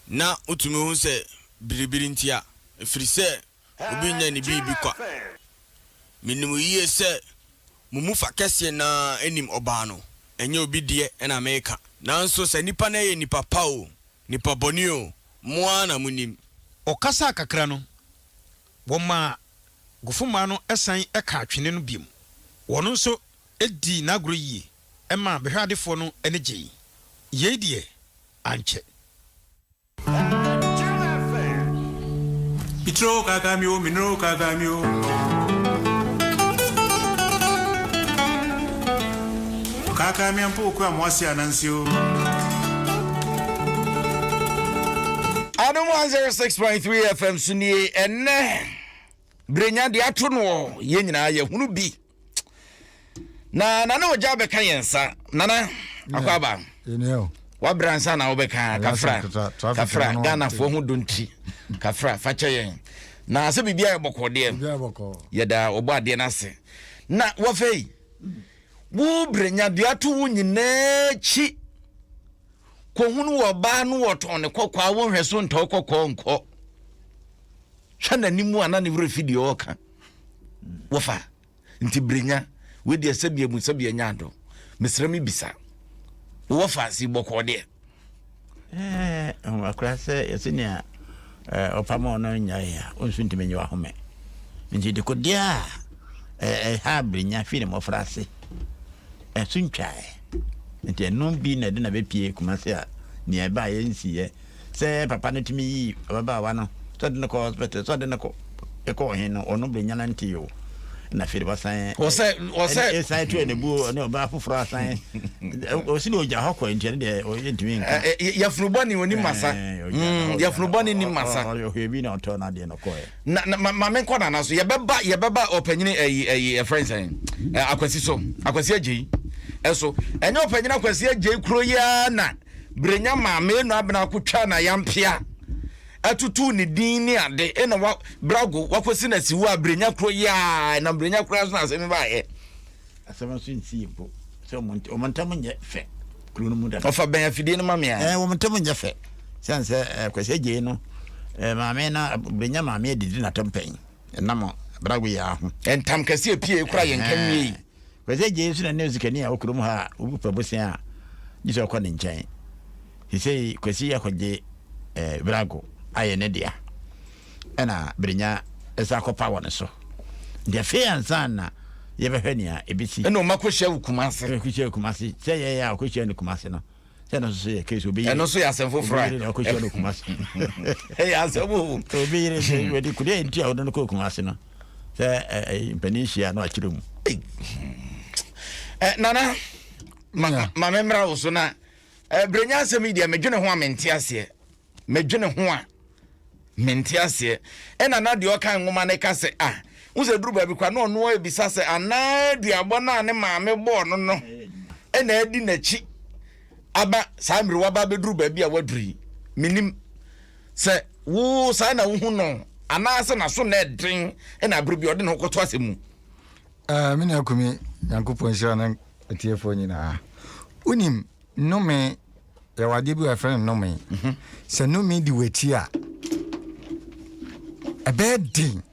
Na wotumi hu sɛ biribiri ntia, ɛfiri sɛ obi nnya ne biribi kwa. Menim yie sɛ mo mu fa kɛseɛ no ara nim ɔbaa no, ɛnyɛ obi deɛ na mereka. Nanso sɛ nnipa no yɛ nnipa pa oo, nnipa bɔne oo, Mo ara na monim. Ɔkasaa kakra no, wɔmaa Gofomaa no san kaa twene no bio. Ɔno nso dii n'agorɔ yie maa bɛhwɛadefoɔ no ani gyei. Yei deɛ ankyɛ. Mitiri oo kaakaa me oo, me nere oo kaakaa me oo. Ɔkaakaa me ampa oku amoase ananse o. Adom 106.3 FM so nie ɛnɛ berenya de ato noɔ yɛn nyinaa yɛhunu bi na nana ogya bɛka yɛn nsa nana akɔ aba wabra nsa na wobɛka kafra kafra ghanafoɔ ho donti kafra fakyɛ yɛn na sɛ biribia yɛ bɔkɔɔdeɛ yɛda ɔbɔ adeɛ no ase na wɔfei Wo brɛ nyabea to wo nyinaa akyi kɔhunu wɔ ɔbaa no wɔtɔn ne kɔkɔɔ a wonhwɛ so ntɔ kɔkɔɔ nkɔ hwɛ n'anim a na ne werɛ fi deɛ ɔka wɔfa nti brenya wedeɛ sɛbia mu sɛbia nya adɔ mesrɛ me bisa wɔfa si bɔkɔɔ deɛ Ɛwɔ koraa sɛ yɛsi nea ɔpam a ɔno nya yɛ a ɔnso ntumi nye wahome nti dekodeɛ a ɛha abirinya fi ne mmɔfra ase ɛso ntwae nti ɛno bi na ɛde na bɛpie kuma se a nea ɛba a yɛnsiyɛ sɛ papa no tumi yi ababaawa no sɛ de no kɔ hospital sɛ de no kɔ kɔ ɔhen no, ɔno benya nantee o, na afei de wasan ɛsan tu anabuo ne ɔbaa foforɔ asan ɔsi de ɔgya hɔ kɔ nti ɛno deɛ ɔyɛ ntumi nka yɛfunu bɔ ne onim masa yɛfunu bɔ ne nim masa ɔhwɛ bi na ɔtɔ na adeɛ no kɔɛ na ma me nkɔ nana so yɛbɛba yɛbɛba ɔpanyini ɛyi ɛyi ɛfrɛ nsɛn akwasi so akwasi agye yi ɛso ɛnyɛ ɔpanyini akwasi agye yi kuro yi ara na brenya maame enu abena akotwa na yampia atutuw ne din ne ade na wa brago wakosi na siwo a brenya koro yaa na brenya koro aso na asɛm ba yɛ asɛm aso nsi mpo sɛ wɔn ntam nyɛ fɛ kuro no mu da ɔfa bɛn afidie no ma me a ɛɛ wɔn ntam nyɛ fɛ sɛn sɛ ɛɛ kwasi agye no ɛɛ maame na brenya maame adidi na tɛmpɛn ɛnam brago yaa ho ɛntam kɛse epie kura yɛn kan wie yi. Hwɛ sɛ gyɛɛ su na ne osikani a ɔwɔ kurom ha a obi pɛ bosea a, gye sɛ ɔkɔ ne nkyɛn. Sesei Kwasi akɔgye eh, Virago ayɛ ne dea, ɛna Birnya san akɔpa wɔ ne so. Nti afei ansa na yɛbɛhwɛ nea ebesi. Ɛna ɔma kɔhyiaa wɔ Kumase. Ɛna ɔkɔhyiaa Kumase. Sɛ yɛɛ a ɔkɔhyiaa no Kumase no. sɛ ɛno nso yɛ case obi yere ɛno nso yɛ asɛm foforɔ obi yere na ɔkɔhyia no kuma se ɛyɛ asɛm o obi yere sɛ hmm. wɔde kudeɛ nti a wɔde no kɔ kuma se no sɛ mpanin hyia no akyerɛ mu nana ma me mmra wo so na berɛnya asɛm yi deɛ medwene ho a mente aseɛ medwene ho a mente aseɛ ɛna na deɛ ɔka nwoma no ka sɛ ah wo sɛ duru baabi kwa na ɔno abisa sɛ anaa aduabɔ no a ne maame bɔɔ no no ɛna adi n'akyi aba saa mmiri waba bɛduru baabi a waduru yi menim sɛ wo saa na wohu no anaasɛ naso na ɛden ɛna abere bi ɔde ne ho kɔto asɛ mu ah, me nua kumi nyankopɔn nhyira no atiefoɔ nyinaa wonim Nnome, yɛwɔ adeɛ bi a yɛfrɛ no nnome. Mhm. Sɛ nnome di w'akyi a, ɛbɛyɛ den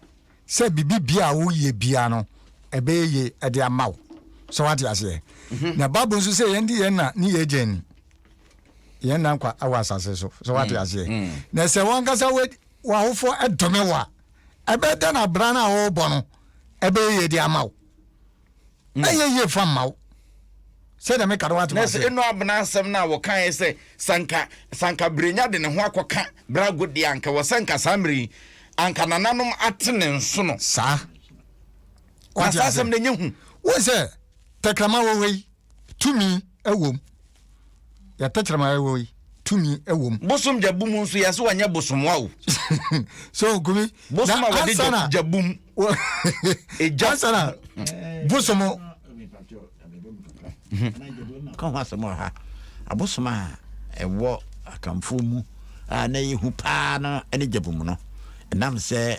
sɛ biribi bia a woyɛ bia no ɛbɛyɛ ye ɛde ama wo. Sɛ wate aseɛ. Mhm. Na Bible nso sɛ yɛn de yɛn na ne yɛn agya ni. Yɛn na nkwa wɔ asase so. Sɛ wate mm. aseɛ. Mm. Na sɛ wankasa w'ahofoɔ ɛdome wo a, ɛbɛyɛ dɛn na abira no a wɔrebɔ no ɛbɛyɛ ye de ama wo. mm. ɛyɛ yie fa mma wo sɛdeɛ meka no wate nɛsɛ ɛnu abena asɛm no a wɔkaeɛ sɛ sanka sanka berenya de ne ho akɔka brago deɛ anka wɔ sɛ nka saa mmerɛ yi anka nananom ate ne nso no saa na saa asɛm no ɛnyɛ hu wo sɛ tɛkrama wɔ hɔ yi Tumi wom. Yɛ tɛkyerɛma ɛwɔ yi. Tumi wom. Bosom gyabu mu nso yɛ so wanyɛ bosom wa o. so gumi. Bosom a wɔde gyabu mu. Egya. Ansana bosom. Ka ho asɛm wɔ ha. Abosom a ɛwɔ akamfoɔ mu a na ɛyɛ hu paa no ne gyabu mu no. Ɛnam sɛ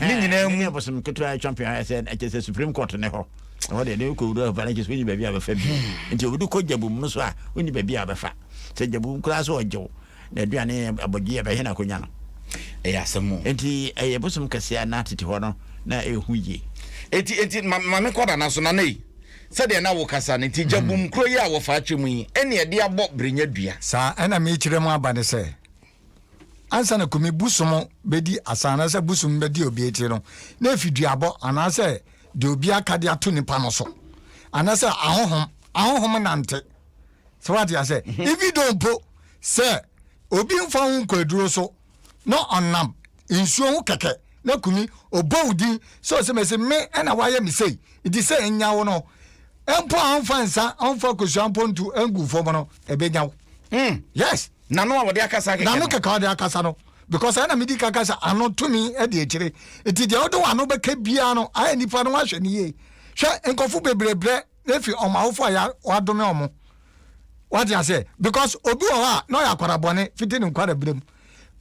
ne nyinaa mu. ɛnyɛ bosom ketewa atwa mpea ayɛ sɛ ɛkyɛ sɛ supreme court ne hɔ ɛhɔ deɛ ne wokɔ wura hɔ ne kyɛ sɛ wonni baabi a bɛfa bi hmm. nti wode kɔ gyabum no so a wonni baabi a bɛfa sɛ gyabum koraa sɛ ɔgyew na aduane abɔgye a bɛhɛ no akɔnya no ɛyɛ asɛm mu nti ɛyɛ bosom kɛseɛ na tete hɔ no na ɛhu yie enti enti mame kɔda no so na na yi sɛdeɛ na wokasa no nti gyabum hmm. kuro yi a wɔfa akyɛ mu yi ɛne ɛde abɔ berenya dua saa ɛna mekyerɛ mu aba ne sɛ ansa na kumi bosom bɛdi asa anaasɛ bosom bɛdi obi akyi no na ɛfi duabɔ anaasɛ deɛ obi aka de ato nipa no so anaasɛ ahohom ahohom nante sɛ wate asɛ mhm. even though mpo sɛ obi mfa ho nkwaduro so na ɔnam nsuo ho kɛkɛ na kumi ɔbɔ wo din sɛ ɔsɛ mɛsi me ɛna wayɛ me sei nti sɛ ɛnya wo no mpo a ɔmfa nsa ɔmfa kosua mpo nto ngu fam no ɛbɛnya wo hmm. yes N'ano a wɔde akasa kɛkɛ no. N'ano kɛkɛ a wɔde akasa no. Because ɛna medi kan ka sɛ ano tumi di akyire. Nti deɛ wode w'ano bɛka biara no, ayɛ nipa no wahwɛ no yie. Hwɛ nkurɔfo bebree brɛ efi wɔn awofo a wɔadome wɔn. Wate aseɛ? Because obi wɔ hɔ a na ɔyɛ akwara bɔne fiti ne nkwarabere mu.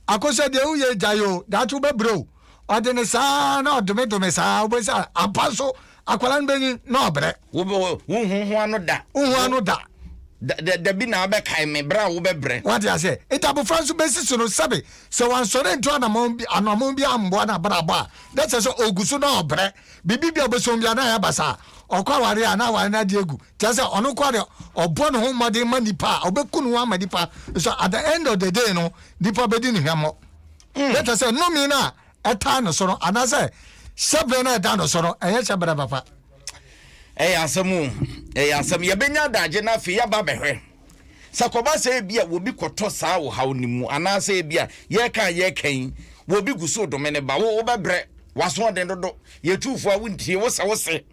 Akosua deɛ woyɛ gyae o, daakye wobɛbrɛ o. Ɔde ne saa na ɔdomedome saa, wobɛhu sɛ ampa nso Akwadaa no bɛnyin na ɔbrɛ. Wonhu ho ano da. Wonhu ano da. Dabi na abɛkae me berɛ a wobɛbrɛ. Wate aseɛ? Nti abofra nso bɛsi so no sɛbe sɛ wansɔre nto anammɔn bi ammoa no abrabɔ a, na kyerɛ sɛ ɔgu so na ɔbrɛ. Biribi bi a ɔbɛsom bi a na ayɛ aba saa. Ɔkɔ awareɛ a na awareɛ no agye agu. Kyerɛ sɛ ɔno nko ara deɛ ɔbɔ ne ho mmɔden ma nnipa a, ɔbɛku ne ho ama nnipa. So at the end of the day no, nnipa bɛdi ne hwammɔ. Hmm. Na kyerɛ sɛ nnome no a ɛtaa no so no anaasɛ hyɛbrɛ no a ɛda no so no ɛyɛ hyɛbrɛ papa. ɛyɛ asɛm o ɛyɛ asɛm yɛbɛnya adagye no afei yɛba bɛhwɛ sɛ kɔba sɛ ebi a wɔbi kɔtɔ saa ɔhaw no mu anaasɛ ebi a yɛka yɛka yi wɔbi gu so dome ne ba wo wobɛbrɛ wasoɔden dodo yɛtufoɔ a wontie wo sɛ wo se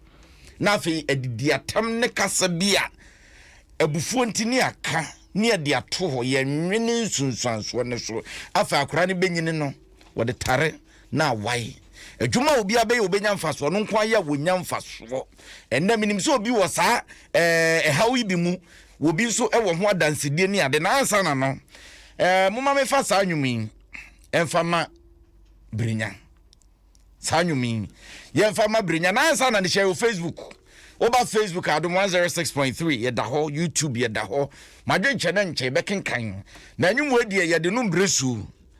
na afei adidi atam ne kasa bi a abufuo nti ne aka ne adi ato hɔ yɛnwene nsunsuansoɔ no so afei akora no bɛnyini no Wɔde tare na awae. Adwuma a obiara bɛyɛ a obenya mfaso, ɔno nko ara yɛ a wonya mfaso. Ɛnnɛ minim sɛ obi wɔ saa ɛɛ ɛhaw yi bi mu, obi nso wɔ ho adansedie ne ade. Na ansa na no, ɛɛ moma mefa saa nnwom yi ɛmfa ma Birenya. Saa nnwom yi yɛmfa ma Birenya. Na ansa na ne hyɛ wɔ Facebook. Woba Facebook a Adom 106.3 yɛda hɔ, YouTube yɛda hɔ. Madwenkyɛ na nkyɛ yɛbɛkenkan. Na nnwom wɔ deɛ yɛde no mbrɛ su.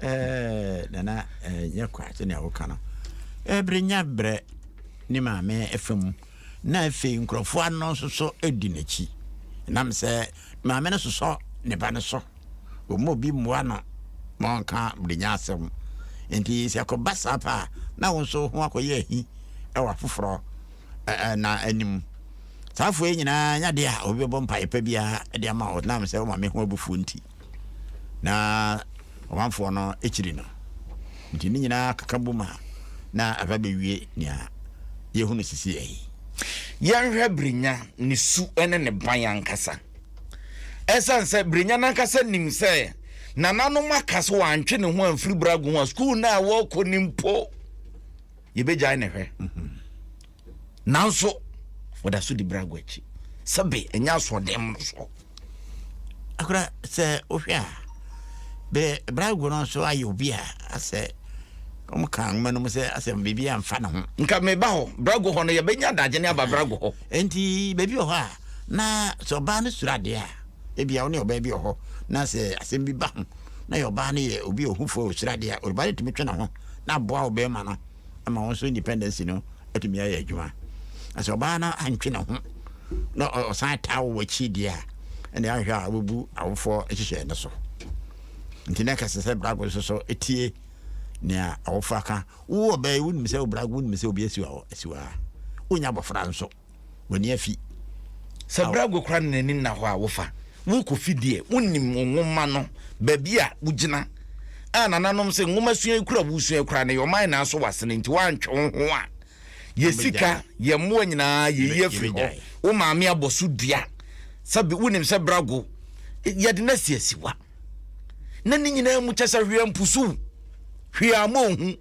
ɛɛ nana ɛɛ nyɛ kwa sɛnea woka no ɛbere nya brɛ ne maame ɛfa mu na afei nkurɔfoɔ ano nso so di n'akyi nam sɛ maame no sosɔ ne ba no so wɔn obi mmoa no ma ɔnka brenya asɛm nti sɛ ɛkɔba saa paa na wɔn nso ho akɔyɛ ahi ɛwɔ afoforɔ ɛɛ na anim saa afoɔ yi nyinaa nyadeɛ a obi bɛbɔ mpaeɛ pa biara de ama wɔn nam sɛ wɔn maame ho abufuo nti. na ɔmanfoɔ no kyiri no. Nti ne nyinaa keka bom a na aba bɛwie nea yɛhunu sisiɛ yi. Yɛnhwɛ Brenya, ne su ne ne ban ankasa. Ɛsiane sɛ Brenya no ankasa nim sɛ nananom aka so wantwe ne ho amfiri Brago ho a, sukuu no a wɔkɔ no mpo, yɛbɛgyae ne hwɛ. Mm -hmm. nanso wɔda so di brago akyi sɛbe ɛnyɛ asoɔden mu no so akora sɛ wohwɛ a bɛ brago no nso ayɛ obi a asɛ wɔn ka nwoma no mu sɛ asɛ biribi amfa ne ho nka meba hɔ brago hɔ no yɛbɛnya adagye ne aba brago hɔ enti baabi wɔ hɔ a na sɛ ɔbaa no suro adeɛ a ebia wo ne ɔbaa bi wɔ hɔ na sɛ asɛm bi ba ho na yɛ ɔbaa no yɛ obi a ɔhufoɔ ɔsuro adeɛ a ɔbaa no tumi twe ne ho na aboa ɔbɛrima no ama wɔn nso independence no atumi ayɛ adwuma na sɛ ɔbaa no antwe ne ho na ɔsan taa wo akyi deɛ a ɛne ahwɛ a wobɛbu awofoɔ nhyehyɛe no so nti na ɛkɛsɛ sɛ brago nso so tie nea awofoɔ aka wo ɔbaa yi wonim sɛ wo brago wonim sɛ obi asiwa asiwa wonya abɔfra nso w'ani afi. Sɛ berɛ ago koraa na n'ani nna hɔ a, wofa. Worekɔfi deɛ, wonim wo nwoma no, baabi a wogyina. A Nananom se, nwomasua yi koro a woresua yi koraa no, ɛyɛ ɔman nyinaa so w'asene, nti woantwe wo ho a, yɛn sika, yɛn mmoa nyinaa, yɛyi afiri hɔ. Wo maame abɔ so dua. Sɛbe, wonim sɛ berɛ ago, yɛde no asi asiwa. Na ne nyinaa mu kyɛ sɛ hwee ampusu wo, hwee amma wo hu.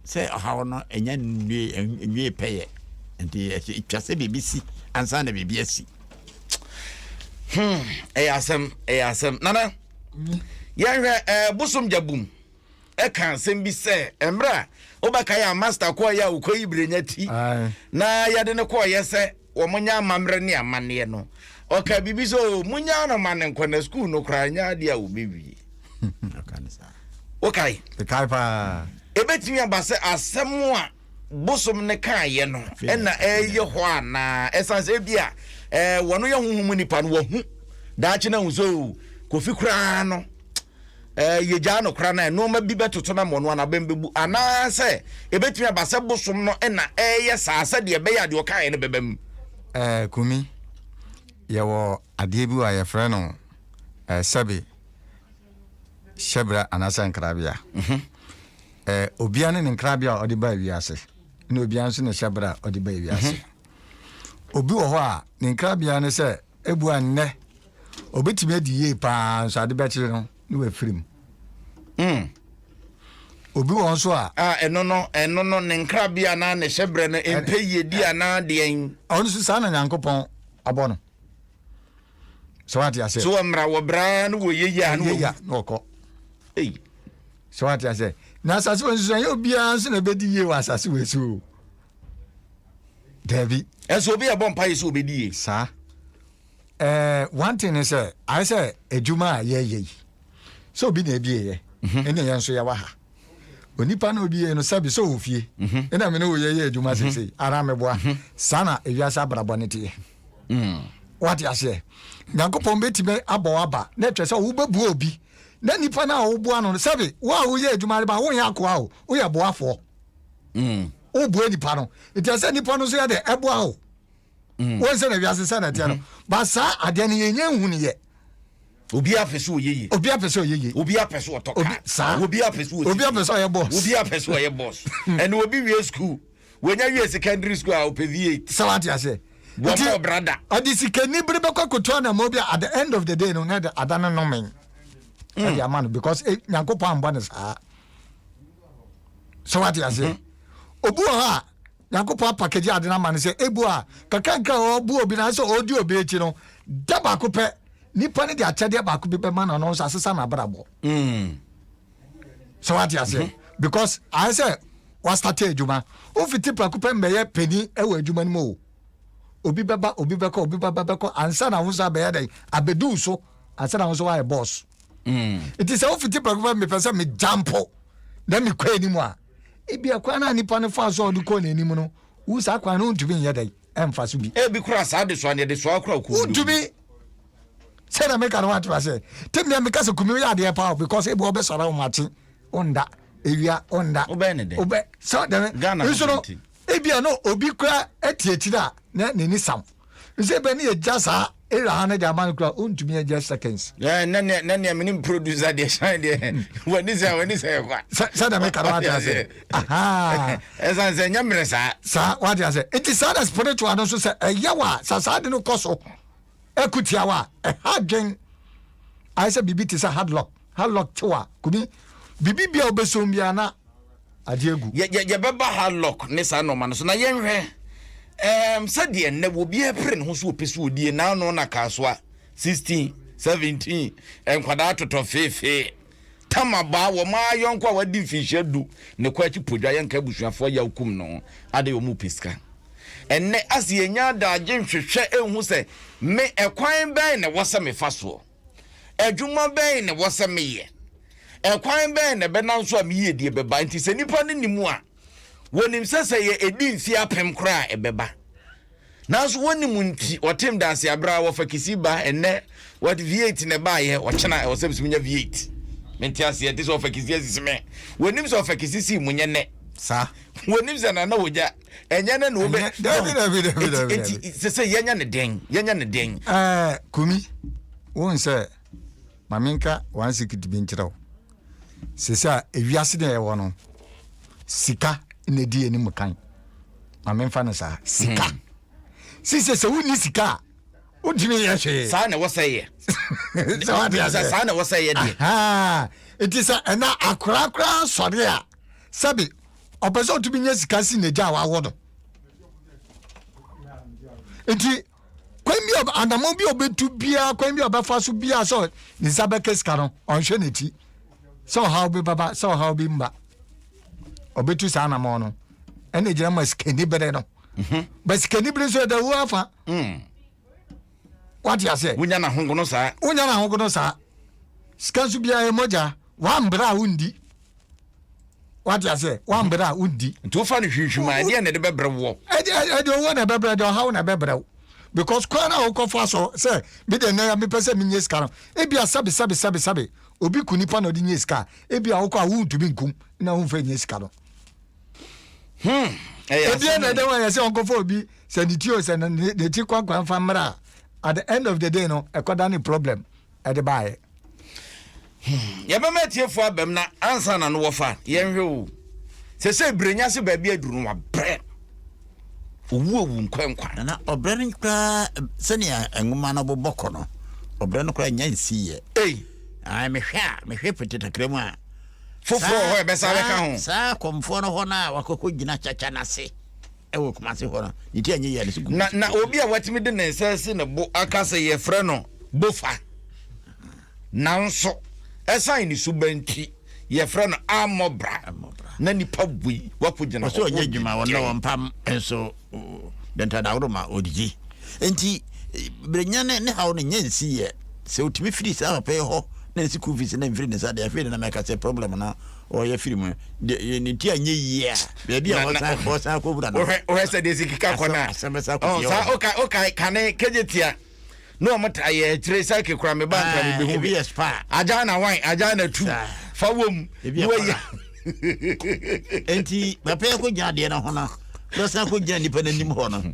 Sɛ ɔhaw no nnya nwiee pɛyɛ nti, etwa sɛ biribi si ansa na biribi asi. Hmm, ɛyɛ asɛm, ɛyɛ asɛm. Nana, yɛnhwɛ ɛɛ eh, bosom gyabum ɛka asɛm bi sɛ mmerɛ a wobɛka yɛ a master kɔɔ yɛ a wokɔyi berɛnya ti na yɛde no kɔɔyɛ sɛ wɔnya amammerɛ ne amanneɛ no, ɔkaa biribi sɛ, oh, monyaa no ma no nkɔ na sukuu no koraa nyɛ adeɛ a wɔbɛwie. wokae? mekae paa. ɛbɛtumi aba sɛ asɛm a bosom no kaeɛ no ɛna ɛyɛ hɔ anaa ɛsiane sɛ bi a wɔno yɛ honhom nipa no wahu daakye no ahu sɛ oh, kofi koraa no eh, yegyaa no koraa na nneɛma bi bɛtoto na mmɔno anabɛn bɛbu anaasɛ ɛbɛtumi aba sɛ bosom no na ɛreyɛ saa sɛdeɛ ɛbɛyɛ a deɛ ɔkaeɛ no bɛba mu eh, kumi yɛwɔ adeɛ bi wɔ a yɛfrɛ no eh, sɛbe hyɛbra anaasɛ nkrabea mhm. eh, obia ne ne nkrabea a ɔde ba wiase na obia nso ne hyɛbra a ɔde ba wiase mhm. obi wɔ hɔ a ne nkrabea ne sɛ Ebua nnɛ, obetumi adi yie paa nso ade bɛkyere no ne wafiri mu. Mm. Obi wɔ nso a. A ɛno no, ɛno no ne nkrabe anaa ne hyɛbrɛ no mpɛ yiedi anaa deɛn. Ɔno nso saa na Nyankopɔn abɔ no. Sɛ wate aseɛ. So wɔmmra wɔbraa no wɔ yɛyi a no wɔ. Yɛya na wɔkɔ. Ei. Sɛ wate aseɛ. Na asase wɔ nso ɛnyɛ obiara nso na ɛbɛdi yie wɔ asase wɔ so. dabi. ɛsɛ obi ɛbɔ mpa yɛ sɛ obedi yie. saa ɛɛ one thing is sɛ ayɛ sɛ adwuma a yɛyɛ yi sɛ obi na ebie yɛ mhm. ɛna yɛn nso yɛwɔ ha onipa na obi yɛ no sɛbi sɛ ɔwɔ fie mhm. ɛna mi ne oyɛ yɛ adwuma mhm. sese ara mi boa saa na ewiase abrabɔ ne teɛ mm. wate aseɛ nyankopɔn bɛtumi abɔ waba na ɛkyerɛ sɛ wobɛbua obi na nipa no a woboa no sɛbi wo a woyɛ adwuma no ba wonyɛ akoa o woyɛ boafoɔ wobue nipa no nti ɛsɛ nipa no nso yɛ dɛ ɛboa wo wɔn sɛ na wiase sɛ na ɛteɛ no ba saa adeɛ no yɛnyɛ nhu no yɛ obi apɛ sɛ ɔyɛ yie obi apɛ sɛ ɔyɛ yie obi apɛ sɛ ɔtɔ kaa saa obi apɛ sɛ ɔsi obi apɛ sɛ ɔyɛ bɔs obi apɛ sɛ ɔyɛ bɔs ɛna obi wie sukuu wɔnya wie secondary school a ɔpɛ vie sɛ wate aseɛ wɔma ɔbra da ɔde sikani bere bɛkɔ koto anamɔ bi at the end of the day no na ɛde ada no nomen ɛde ama no because eh, nyankopɔn ambɔ no saa sɛ wate aseɛ hmm. obi wɔ hɔ a nyankopɔn apakagye ade no ama no sɛ ebu a kakanka ɔbu obi no sɛ ɔdi obi akyi no da baako pɛ nipa no de akyɛdeɛ baako bi bɛma no no nso asesa no abrabɔ hmm. sɛ wate aseɛ hmm. because ayɛ sɛ wastate adwuma wofiti prako pɛ mbɛyɛ pani wɔ adwuma no mu o obi bɛba obi bɛkɔ obi bɛba bɛkɔ ansa na ahosuo abɛyɛ dɛn abɛduu so ansa na ahosuo ayɛ bɔɔso mm. nti sɛ wofiti prɛko pɛ mepɛ sɛ megya mpo na mekɔ anim a ebi ɛkwan no a nipa no fa so a ɔde kɔ n'anim no wo saa kwan no wontumi nyɛ dɛn ɛmfa so bi ebi kora saa de soa ne de soa kora kuu wontumi sɛ na meka no woatema sɛ tem nea meka sɛ kumi woyɛ adeɛ paa because ebi wɔbɛsɔre wo makye wonda ewia wonda wobɛn ne dɛ wobɛ sɛ dɛm nso no Ebia na obi kura ɛte akyiri a na n'ani sam. Nsɛ bɛ ne yɛgya saa era ha no de ama no kura ɔntumi agya seconds. Yeah, na nea na nea menim producer deɛ shine deɛ hmm. wani sɛ wani sɛ kwa. Sɛ sɛ na meka no wate ase. Aha. Ɛsan sɛ nyɛ mmerɛ saa. Saa wate ase. Nti saa na spiritual no nso sɛ ɛyɛ wa sɛ saa de no kɔ so. Ɛko tiawa a ɛha adwen ayɛ sɛ biribi te sɛ hadlock hadlock tew a kumi biribi bia wobɛsom biara na agye agu. Yɛbɛba hadlock ne saa nnoɔma no so na yɛnhwɛ um, sɛdeɛ nnɛ wɔ biara pere ne ho so wɔpɛ so ɔdie naano na kasoa 16 17 nkwadaa totɔ feefee. Tama baa wɔn ara yɔnko a wadi mfinhyia du ne kɔ akyi podwa yɛnka abusuafoɔ yaw kum no ho adɛn wɔn pɛ sika ɛnnɛ ase yɛnya adagye nhwehwɛ nhu sɛ me ɛkwan bɛn na ɛwɔ sɛ mefa soɔ adwuma bɛn na ɛwɔ sɛ meyɛ ɛkwan bɛn na ɛbɛnam so a me yiedie bɛba nti sɛ nipa no nim a wɔnim sɛ sɛ yɛ ɛdi mfeɛ apem koraa ɛbɛba Nanso wɔnim nti wɔtem daase aberɛ a wɔfa kisi ba ɛnɛ wɔde V8 na ɛbaayɛ ɔkyena ɛwɔ sɛ mesɛ menya V8 mente aseɛ te sɛ ɔfa kisi asisi me wɔnim sɛ ɔfa kisi sii mu nyɛ nɛ saa wɔnim sɛ nana wɔgya ɛnyɛ nɛ na wɔbɛ dabi dabi dabi dabi eti sɛ sɛ yɛnyɛ ne dɛn yɛnyɛ ne dɛn ɛɛ kumi wɔn sɛ maame nka wɔn asikiti bi nkyerɛ wo Seesei a wiase na yɛwɔ no, sika na edi yɛn mu kan. Ma memfa no saa, sika. Hmm. Sise sɛ wonni sika a, wontumi yɛ hwee. Saa na ɛwɔ sɛ yɛ. Sɛ wate ase. Saa na ɛwɔ sɛ yɛ deɛ. Eti sɛ ɛna akorakora sɔre a, sɛbi ɔpɛ sɛ ɔtumi nya sika si n'agya a wawo no. Eti kwan bi anamɔ bi a ɔbɛtu biara kwan bi a ɔbɛfa so biara sɛ ne nsa bɛka sika no ɔnhwɛ n'akyi sɛ ɔhaw bi baba sɛ ɔhaw bi mba ɔbɛtu saa anamɔ no ɛna gyina ma sikani bere no mhm. ba sikani bere nso ɛda wu afa mm. wate aseɛ wonya no ahogono saa wonya no ahogono saa sika nso biara ɛmɔgya wambrɛ a wondi wate aseɛ wambrɛ a wondi nti wofa no hwinhwim a ɛdeɛ na ɛde bɛbrɛ woɔ ɛde owuo na ɛbɛbrɛ de ɔhaw na ɛbɛbrɛ wo because kwan a wokɔfa so sɛ medeɛ nɛ mepɛ sɛ menyɛ sika no ebia sɛbe sɛbe sɛbe sɛbe obi ku nipa na ɔde nyɛ sika ebia wokɔ a wontumi nkum na womfa nyɛ sika no hmm, ebia na ɛdɛ wɔ yɛ sɛ ɔnkɔfa obi sɛ ne tio sɛ ne ti kwankwan fa mmra at the end of the day no ɛkɔda ne problem de baeɛ. Hmm, yɛbɛma atiefo abam na ansa na no wɔfa yɛnhwɛ o. Sɛsɛ brenya se baabi aduru no wabrɛ. Owu owu nkwa nkwa. Na ɔbrɛ no koraa sɛnea nwoma no bobɔ kɔ no, ɔbrɛ no koraa nya nsiiɛ. Ei. Ai mehwɛ a, mehwɛ pete kakra mu a. Foforɔ hɔ ɛbɛsa bɛka ho. Saa kɔmfoɔ no hɔ no a wakɔkɔ gyina kyakya no ase. wɔ Kumasi hɔ no, ne ti anyi yɛ ne so gu. Na na obi a watumi de ne nsa asi ne bo aka sɛ yɛfrɛ no Bofa. Nanso, ɛsan ne suban nti, yɛfrɛ no Amɔbra. Na nipa bui wakogyina hɔ. Ɔsɛ ɔnyɛ adwuma, ɔnna wɔn mpam nso dɛntɛdaworo ma odidi. Nti, berenya ne ne haw no nyɛ nsi yɛ. Sɛ otumi firi saa papa yi hɔ na ne sukuu fees na mfiri ne nsa deɛ, afei de na mɛka sɛ problem no ɔyɛ firi mu deɛ ne ti anyɛ yie a baabi a ɔsan akɔwura no wohwɛ sɛ deɛ sikika kɔ no a saa woka kane kɛgye tia ne ɔmo ta yɛ akyire sɛke kora me ba nkra mebɛhu bi agya na wan agya na tu fa wom ne wayɛ enti papa yɛ kɔgya adeɛ no ho no na ɔsan kɔgya nnipa no anim hɔ no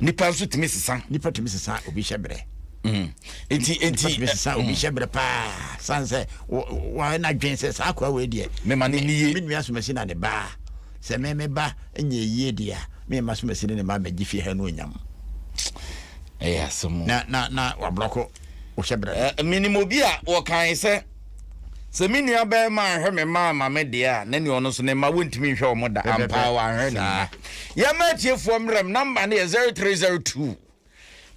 nipa nso tumi sesa. nipa tumi sesa obi hyɛ brɛ. Mm. nti nti nipa tumi sesa eh, obi mm. hyɛ brɛ paa san sɛ wɔn na dwen sɛ saa akora wɔ deɛ. mɛma ne nie. mi nua sumasi na ne ba sɛ mɛmɛ ba nyɛ yie deɛ a mɛma sumasi ne ne ba mɛgye fie ha no onyam. ɛyɛ asɛm. na na na wabrɔko wɔhyɛ brɛ. minimu bi a wɔkan sɛ. Sɛ me nua bɛrima anhwɛ me mma amma me deɛ a, na nea ɔno nso ne mma wɔntumi nhwɛ wɔn da. Ampa ara wanhwɛ ne mma. Yɛmma atiefoɔ mmerɛm, namba no yɛ 0302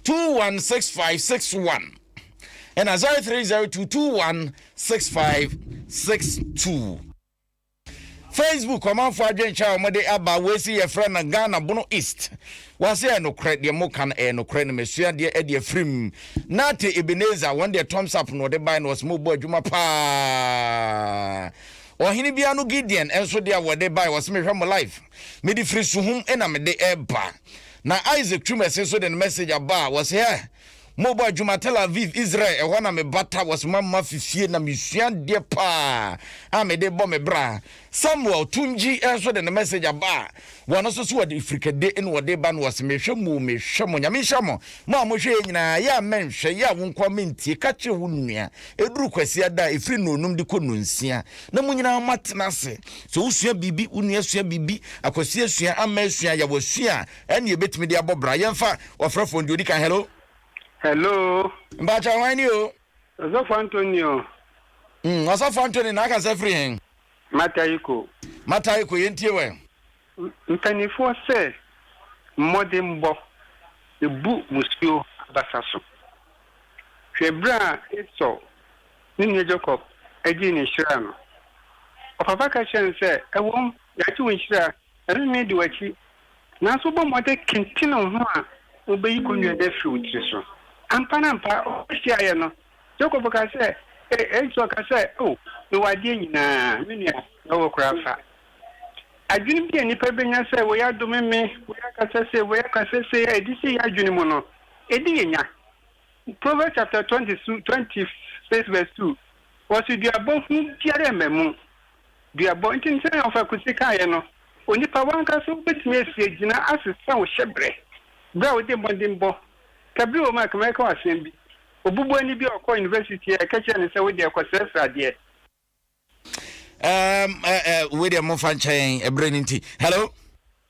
216561 ɛna 0302 216562. Facebook ɔmanfoɔ adwenkyɛ a wɔde aba wei si yɛfrɛ no Ghana Bono East wɔase ɛyɛ nokorɛ deɛ moka no ɛyɛ nokorɛ no mesua deɛ ɛde afirim Nate Ebenezer wɔn deɛ thumbs up na wɔde bae na wɔsɛ mobɔ adwuma paa ɔhene bia no gideon nso de a wɔde bae wɔsɛ mehwɛ mo live mede firi suhum na mede ɛba na isaac tumɛse nso de no message aba a wɔsɛ hɛ Mo bɔ adwuma Tel Aviv, Israel, ɛhɔ na me bata wɔ Smama fifie na me sua adeɛ paa a me de bɔ me bra. Samuel, Tungyi, nso de ne message aba a wɔn nso so wɔde frikade na wɔde ba na wɔse me hwɛ mo o, me hwɛ mo. Nyame nhyira mo, mo a mo hwɛ yɛn nyinaa, yɛ a mɛ nhwɛ, yɛ a wo nkoa mɛ ntie, ka kyerɛ wo nua, ɛduru kwasia da a ɛfiri nnɔnum de kɔ nnɔnsia na mo nyinaa mo atena ase, sɛ wo sua biribi, wo nua sua biribi, akwasia sua, amɛ sua, yawa sua a, Ɛne yɛbɛtumi de abɔ bra. Yɛmfa ɔfrɛfoɔ no deɛ ɔdi kan. Hello. Hello. Mpakyɛ hwan ni o? Ɔsɔfo Anthony o. Mm, Ɔsɔfo Anthony na akasa firi hen? Mataiko. Mataiko, yɛntie wɛ. Mpanimfoɔ sɛ mmɔdenbɔ bu musuo abasa so. Hwɛ berɛ a Esau ne nua Jacob gyee ne nhyira no. Ɔpapa ka kyerɛɛ no sɛ, Ɛwom, yɛagye wo nhyira Ɛrenne di w'akyi, nanso bɔ mmɔden kentene wo ho a wubeyi konnua no afi wo tiri so. Amparampa, ɔhɔ hyiaeɛ no, Jakob kaa sɛ, Ee, enti ɔka sɛ, O, mewɔ adeɛ nyinaa, me nua, na wowɔ koraa fa. Adwene bi a nnipa benya sɛ wei adome me, wei akasa sei, wei akasa sei, a edi sɛ yɛn adwene mu no, edi yɛn nya. Proverbs chapter twenty two, twenty six verse two, Wɔso duabɔ hu biara mma mu. Duabɔ ntenten a ɔfakuse kaeɛ no, onipa w'ankasa wobɛtumi asi agyina asesa wo hyɛbrɛ berɛ a wode mmɔdenbɔ ka bi wɔ mu a ka mɛka wo asɛm bi, obubuani bi a ɔkɔɔ university a ɛka kyerɛɛ no sɛ wodeɛ kɔ srɛsrɛ adeɛ. Ɛɛm ɛɛ wei deɛ momfa nkyɛn ɛberɛ no nti. Hello.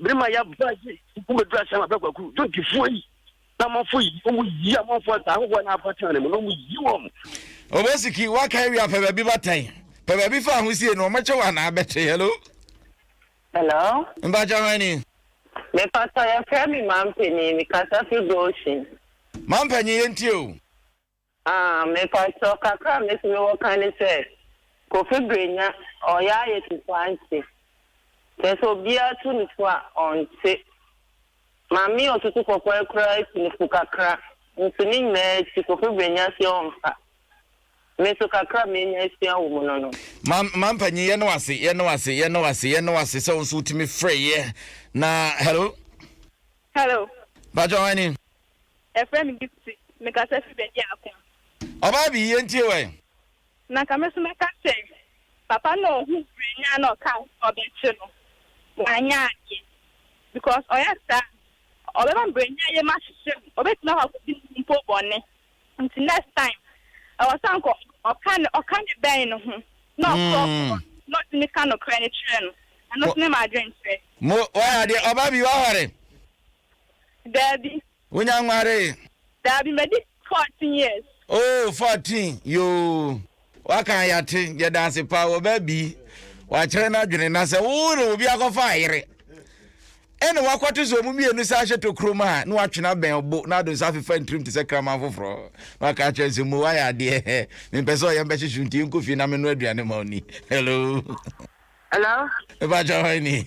Berima ya ba yi nko bɛduru asɛm a bɛkwaku dwontifoɔ yi na amanfoɔ yi wɔn yi amanfoɔ nsa ahohoɔ na afa tena ne mu na wɔn yi wɔn. Obesiki waka awie a pɛ baabi batan pɛ baabi fa ahosie no wɔmɛkyɛ wɔ anaa bɛte hello. Hello. Mpakyɛ hwan ni. Mepatɔ yɛfrɛ me mampanin mekasa firi Goshen. Mampanyin yɛntie o. Ah, mepakyɛw, kakra a mesi me wɔ ka ne sɛ, Kofi Brenya, ɔyɛ ayɛ te sɛ ɔante. Kyerɛ sɛ obiara tu no fo a, ɔnte. Maame Otutu Kɔkɔɛ koraa tu no fo kakra, nso ne nyinaa akyi, Kofi Brenya se ɔmfa. Me nso kakra a manya asua wɔ mu no no. Mam, mampanyin, yɛne wo ase, yɛne wo ase, yɛne wo ase, yɛne wo ase sɛ wo nso wotumi frɛeɛ na, hello. Hello. Mpakyɛw, hwan ni? Ɛfrɛ me Gifty, mekasa fi baabi a ako. Ɔbaa bi, yɛntie wo ɛ. Na nka me so mɛka sɛ. Papa no a ɔhuu berɛ nyaa na ɔkaa sɛ ɔbɛkye no, wanyɛ adeɛ. Because ɔyɛ saa a, ɔbɛma mberɛnya yam ahyehyɛ no, ɔbɛtumi akɔ akɔdi ne ho mpo bɔne. Nti next time, ɛwɔ sɛ anka ɔka ne ɔka ne bɛn no ho, na ɔkorɔkorɔ no, na ɔtumi ka nokorɛ no kyerɛ no. Ɛno nso ne m'adwenkyerɛ. Mo, wayɛ adeɛ. Ɔbaa bi, wahɔre. Daabi. Wonya nwaree? Daabi, madi fourteen years. Oh, fourteen, yoo. Waka a yɛate, yɛda ase paa, wɔbaa bi, wakyerɛ n'adwene, na sɛ wo ne obi akɔfa ayere, ɛna wakɔto sɛ ɔmo mmienu san hyɛ tokuro mu a, na watwene abɛn ɔbo, na ado nsa afefa ntirim te sɛ kraman foforɔ, na waka akyerɛ no sɛ, mo wayɛ adeɛ, mempɛ sɛ ɔyɛ mbɛhyehye nti yɛnkɔ fie na menoa aduane ma ɔni. Hello. Hello. Mepa kyɛ hwan ni?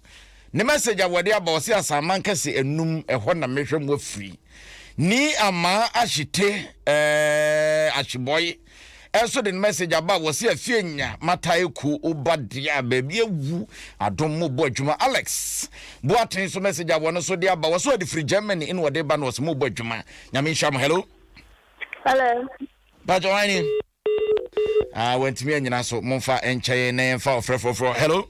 Ne message a wɔde aba ɔse asanman kɛse anum ɛhɔ na mehwɛ mo afiri ni amaa ahyete ɛɛɛ ahyebɔye ɛnso de ne message aba a wɔse afie nya mata eku oba deɛ a baabi awu adom mo bɔ adwuma Alex boaten nso message a wɔno so de aba wɔse ɔde firi Germany ɛna ɔde ba na ɔse mo bɔ adwuma nyame nhyira mo hello hello bàjẹ́ wáyé ni ah wɔntumi anyina so momfa nkyɛn na yɛmfa ɔfrɛ foforɔ hello.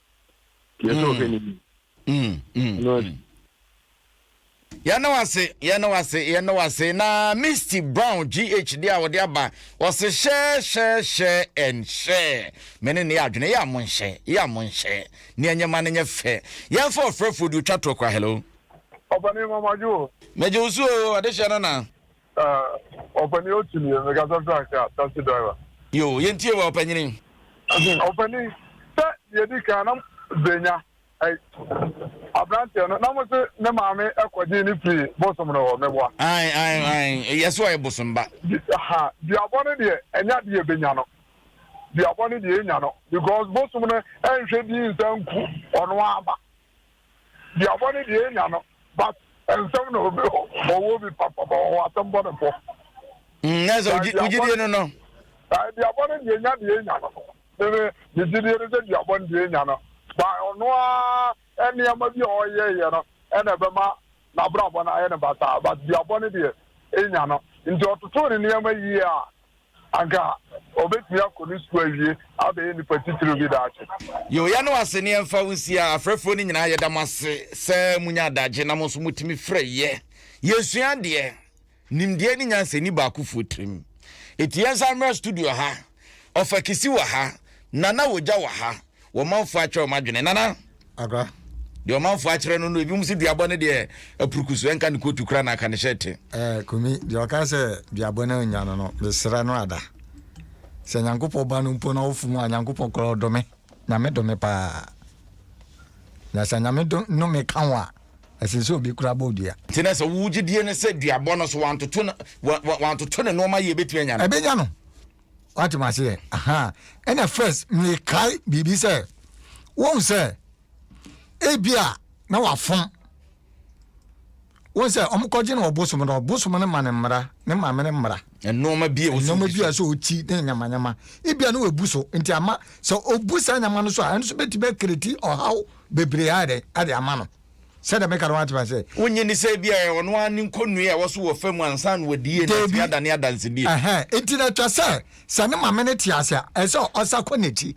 yɛsɛ ɔhwɛ n'anim yɛne wase yɛne wase yɛne wase na misty brown gh de a wɔde aba wɔse hyɛhyɛhyɛ ɛnhyɛ me ne ne yɛ adwene yɛ a monhyɛ yɛ a monhyɛ ne ɛnyɛma no nyɛ fɛ yɛmfa ɔfrɛfoɔ de otwa toɔ kora hello ɔbɛne mamajo megye wo so o adehyɛ no na Ah ɔpanin otu nie me kasa frank a taxi driver. Yoo yɛn tie wo ɔpanyini. Ɔpanin sɛ deɛ edi kan na brenya ɛyi abranteɛ no na mo se ne maame ɛkɔ gyee ne firi bosom no hɔ mɛboa. Ae ae ae yɛse ɔyɛ bosom ba. Ha duabɔ no deɛ ɛnyɛ ade yɛbɛnya no duabɔ no deɛ yɛnya no because bosom no ɛnhwɛ din nsa nku ɔno ara ba. Deɛ ɔbɔ ne deɛ enya no but nsɛm na obi ɔwɔ obi papa but ɔwɔ asɛm bɔ ne bɔ. Mm, na sɛ wogye gyidie no no. Ɛɛ duabɔ no deɛ nya deɛ enya no. Meme me gyidie no sɛ duabɔ no deɛ enya no ba ɔno ara nneɛma bi a ɔyɛɛyɛ no ɛna ɛbɛma n'abrabɔ no ayɛ no basaa but duabɔ no deɛ enya no nti ɔtotoo ne nneɛma yie a Anka obetumi akɔ ne sukuu awie abɛyɛ nipa titiriw bi daakye. Yoh, yɛ no ase ne yɛmfa wo nsia. Afrɛfoɔ no nyinaa yɛda mo ase sɛ monya adagye na mo nso motumi frɛ yɛ. Yɛsua adeɛ, nimdeɛ ne nyansa nni baakofoɔ tirim. Enti yɛnsan mmra studio ha. Ɔfa Kisi wɔ ha, Nana Wogya wɔ ha, wɔn manfoɔ atwerɛ wɔn adwene nana. Agra. Deɛ ɔmanfoɔ akyerɛ no no ebinom sɛ duabɔ no deɛ apuruku so ɛnka ne kootu kora na aka ne hyɛ te. Ɛɛ kumi deɛ ɔka sɛ duabɔ no nya no no mesrɛ no ada sɛ nyankopɔn ba no mpo na ɔfo mu a nyankopɔn kora ɔdome nyame dome paa na sɛ nyame dome ka ho a ɛsɛ sɛ obi kora bɔ dua. nti na sɛ wogye die no sɛ duabɔ no so wantoto ne nnoɔma yɛ ɛbɛtumi anya no ɛbɛnya no wate ma seɛ ahaa ɛna first mekae biribi sɛ wohu sɛ ebi a na wafom wohu sɛ ɔmokɔgye no ɔbosom no ɔbosom no ma ne mmara ne maame ne mmara nnoɔma bi a nnoɔma bi a sɛ ɔti ne nyamanyama ebi a na wabu so nti ama sɛ ɔbu saa nyama no so a ɛno so bɛtumi akiriti ɔhaw bebree ayɛ dɛ ade ama no Sɛdeɛ meka no woate ma sɛ. Wonye ne sɛ bi a ɔno ara ne nkɔnnue a ɛwɔ so wɔ fam ansa na wadi yie na atumi adane adansedie. Ɛhɛn, enti na ɛtwa sɛ, sɛ ne maame no te ase a, ɛsɛ sɛ ɔsa kɔ n'akyi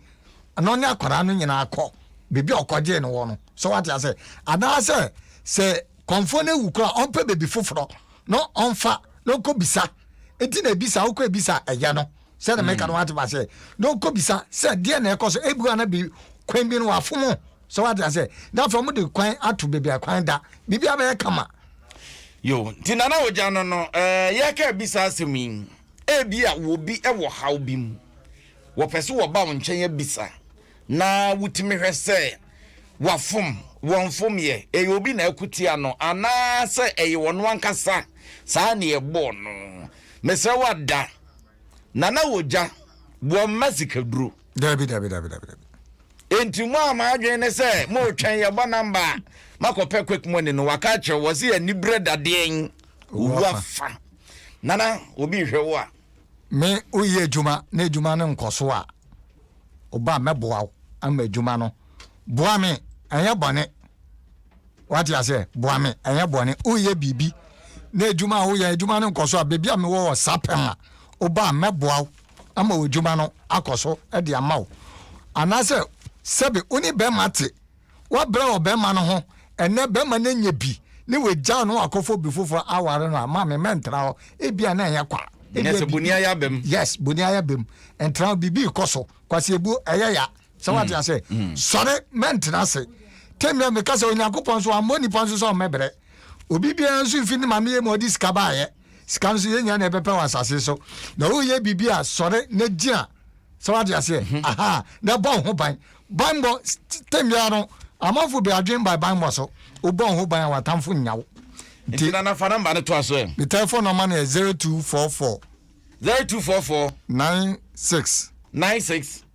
na ɔne akwadaa no nyinaa kɔ baabi a ɔkɔgyee no wɔ no. So woate ase? Anaasɛ sɛ kɔmfoɔ no awu koraa a, ɔmpɛ baabi foforɔ na ɔmfa na ɔnkɔbisa. Enti na ɛbi saa, wokɔ ɛbi saa a, ɛyɛ no. Sɛdeɛ meka no woate ma sɛ, na ɔnkɔbisa sɛ deɛ na ɛrekɔ so. Ebi wɔ a na bi, kwan bi no wɔafom So wate ase? Na afei wɔn de kwan ato beebi a kwan da. Biribi abɛyɛ kama. Yo, nti Nana Ogya no no, ɛɛ eh, yɛka ebi saa asɛm yi. Ebi a wɔbi ɛwɔ haw bi mu, wɔpɛ so wɔba wɔn nkyɛn abisa, na wotumi hwɛ sɛ wafom, wɔnfom yɛ, ɛyɛ obi na akutia no, anaasɛ ɛyɛ wɔn ankasa saa na ɛbɔɔ no. Mesrɛ wada Nana Ogya wɔn mma sikaduro. Dabi dabi dabi dabi dabi. Enti mo a mo adwene ne sɛ moretwɛn yɛbɔ number a moakɔpɛ quick money no waka akyerɛ wɔ se aniberɛ dadeɛn owu afa nana obi rehwɛ wo a. Me woyɛ adwuma na adwuma no nkɔ so a oba mɛboa wo ama adwuma no boa me ɛnyɛ bɔne wate aseɛ boa me ɛnyɛ bɔne woyɛ biribi na adwuma a woyɛ adwuma no nkɔ so a baabi a mewɔ wɔ sapɛm a oba mɛboa wo ama w'adwuma no akɔ so de ama wo. Anaasɛ sɛbe wo ne bɛrima te, woabrɛ ɔbɛrima no ho, ɛnnɛ bɛrima no anya bi ne wagyaw no akɔfa obi foforɔ aware no a, maame mɛntra hɔ. Ebia na ɛnyɛ kwa. Ebia biribi. Yes, boni ayɛ abam. Ɛntra hɔ, biribi rekɔ so. Kwasi ebu, ɛyɛ ya. sɛ wate mm. ase mm. sɔre mɛntena ase tɛmia meka sɛ onyankopɔn nso ammɔ nnipa nso sɛ ɔmmɛbrɛ obi biara nso mfi ne maame yɛ ma ɔde sika baayɛ sika nso yɛnya na ɛbɛpɛ wɔ asase so na woyɛ biribi a sɔre na gyina sɛ wate aseɛ mhm. aha na ɛbɔ wo ho ban banbɔ tɛmia no amanfo bi adwen ba banbɔ so wobɔ wo ho ban a watamfo nnya wo nti na nafa namba no to aso ɛ me telephone number no yɛ 0244 0244 96 96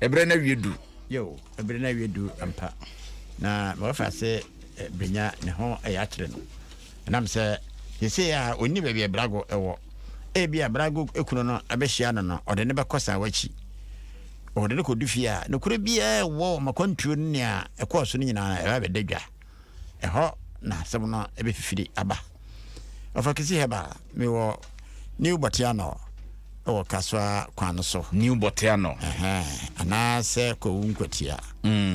Ɛberɛ no awie du. Yeo, ɛberɛ no awie du ampa, na ma wafa ase benya ne ho ɛyɛ akyerɛ no. Ɛnam sɛ seesei a ɔnni baabi a brago wɔ. Ebia brago kunu no bɛhyia no no, ɔde no bɛkɔ saa wakyi. Ɔde no kɔdu fie a, nokorɛ biara ɛwɔ wɔn akwantuo ne nea ɛkɔɔ so no nyinaa ɛba bɛda dwa. ɛhɔ na asɛm no ɛbɛfifiri aba ɔfa kisi hɛba mewɔ new bɔteanɔ ɛwɔ kasoa kwan no so new bɔteanɔ anaasɛ kɔwu nkwatia mm.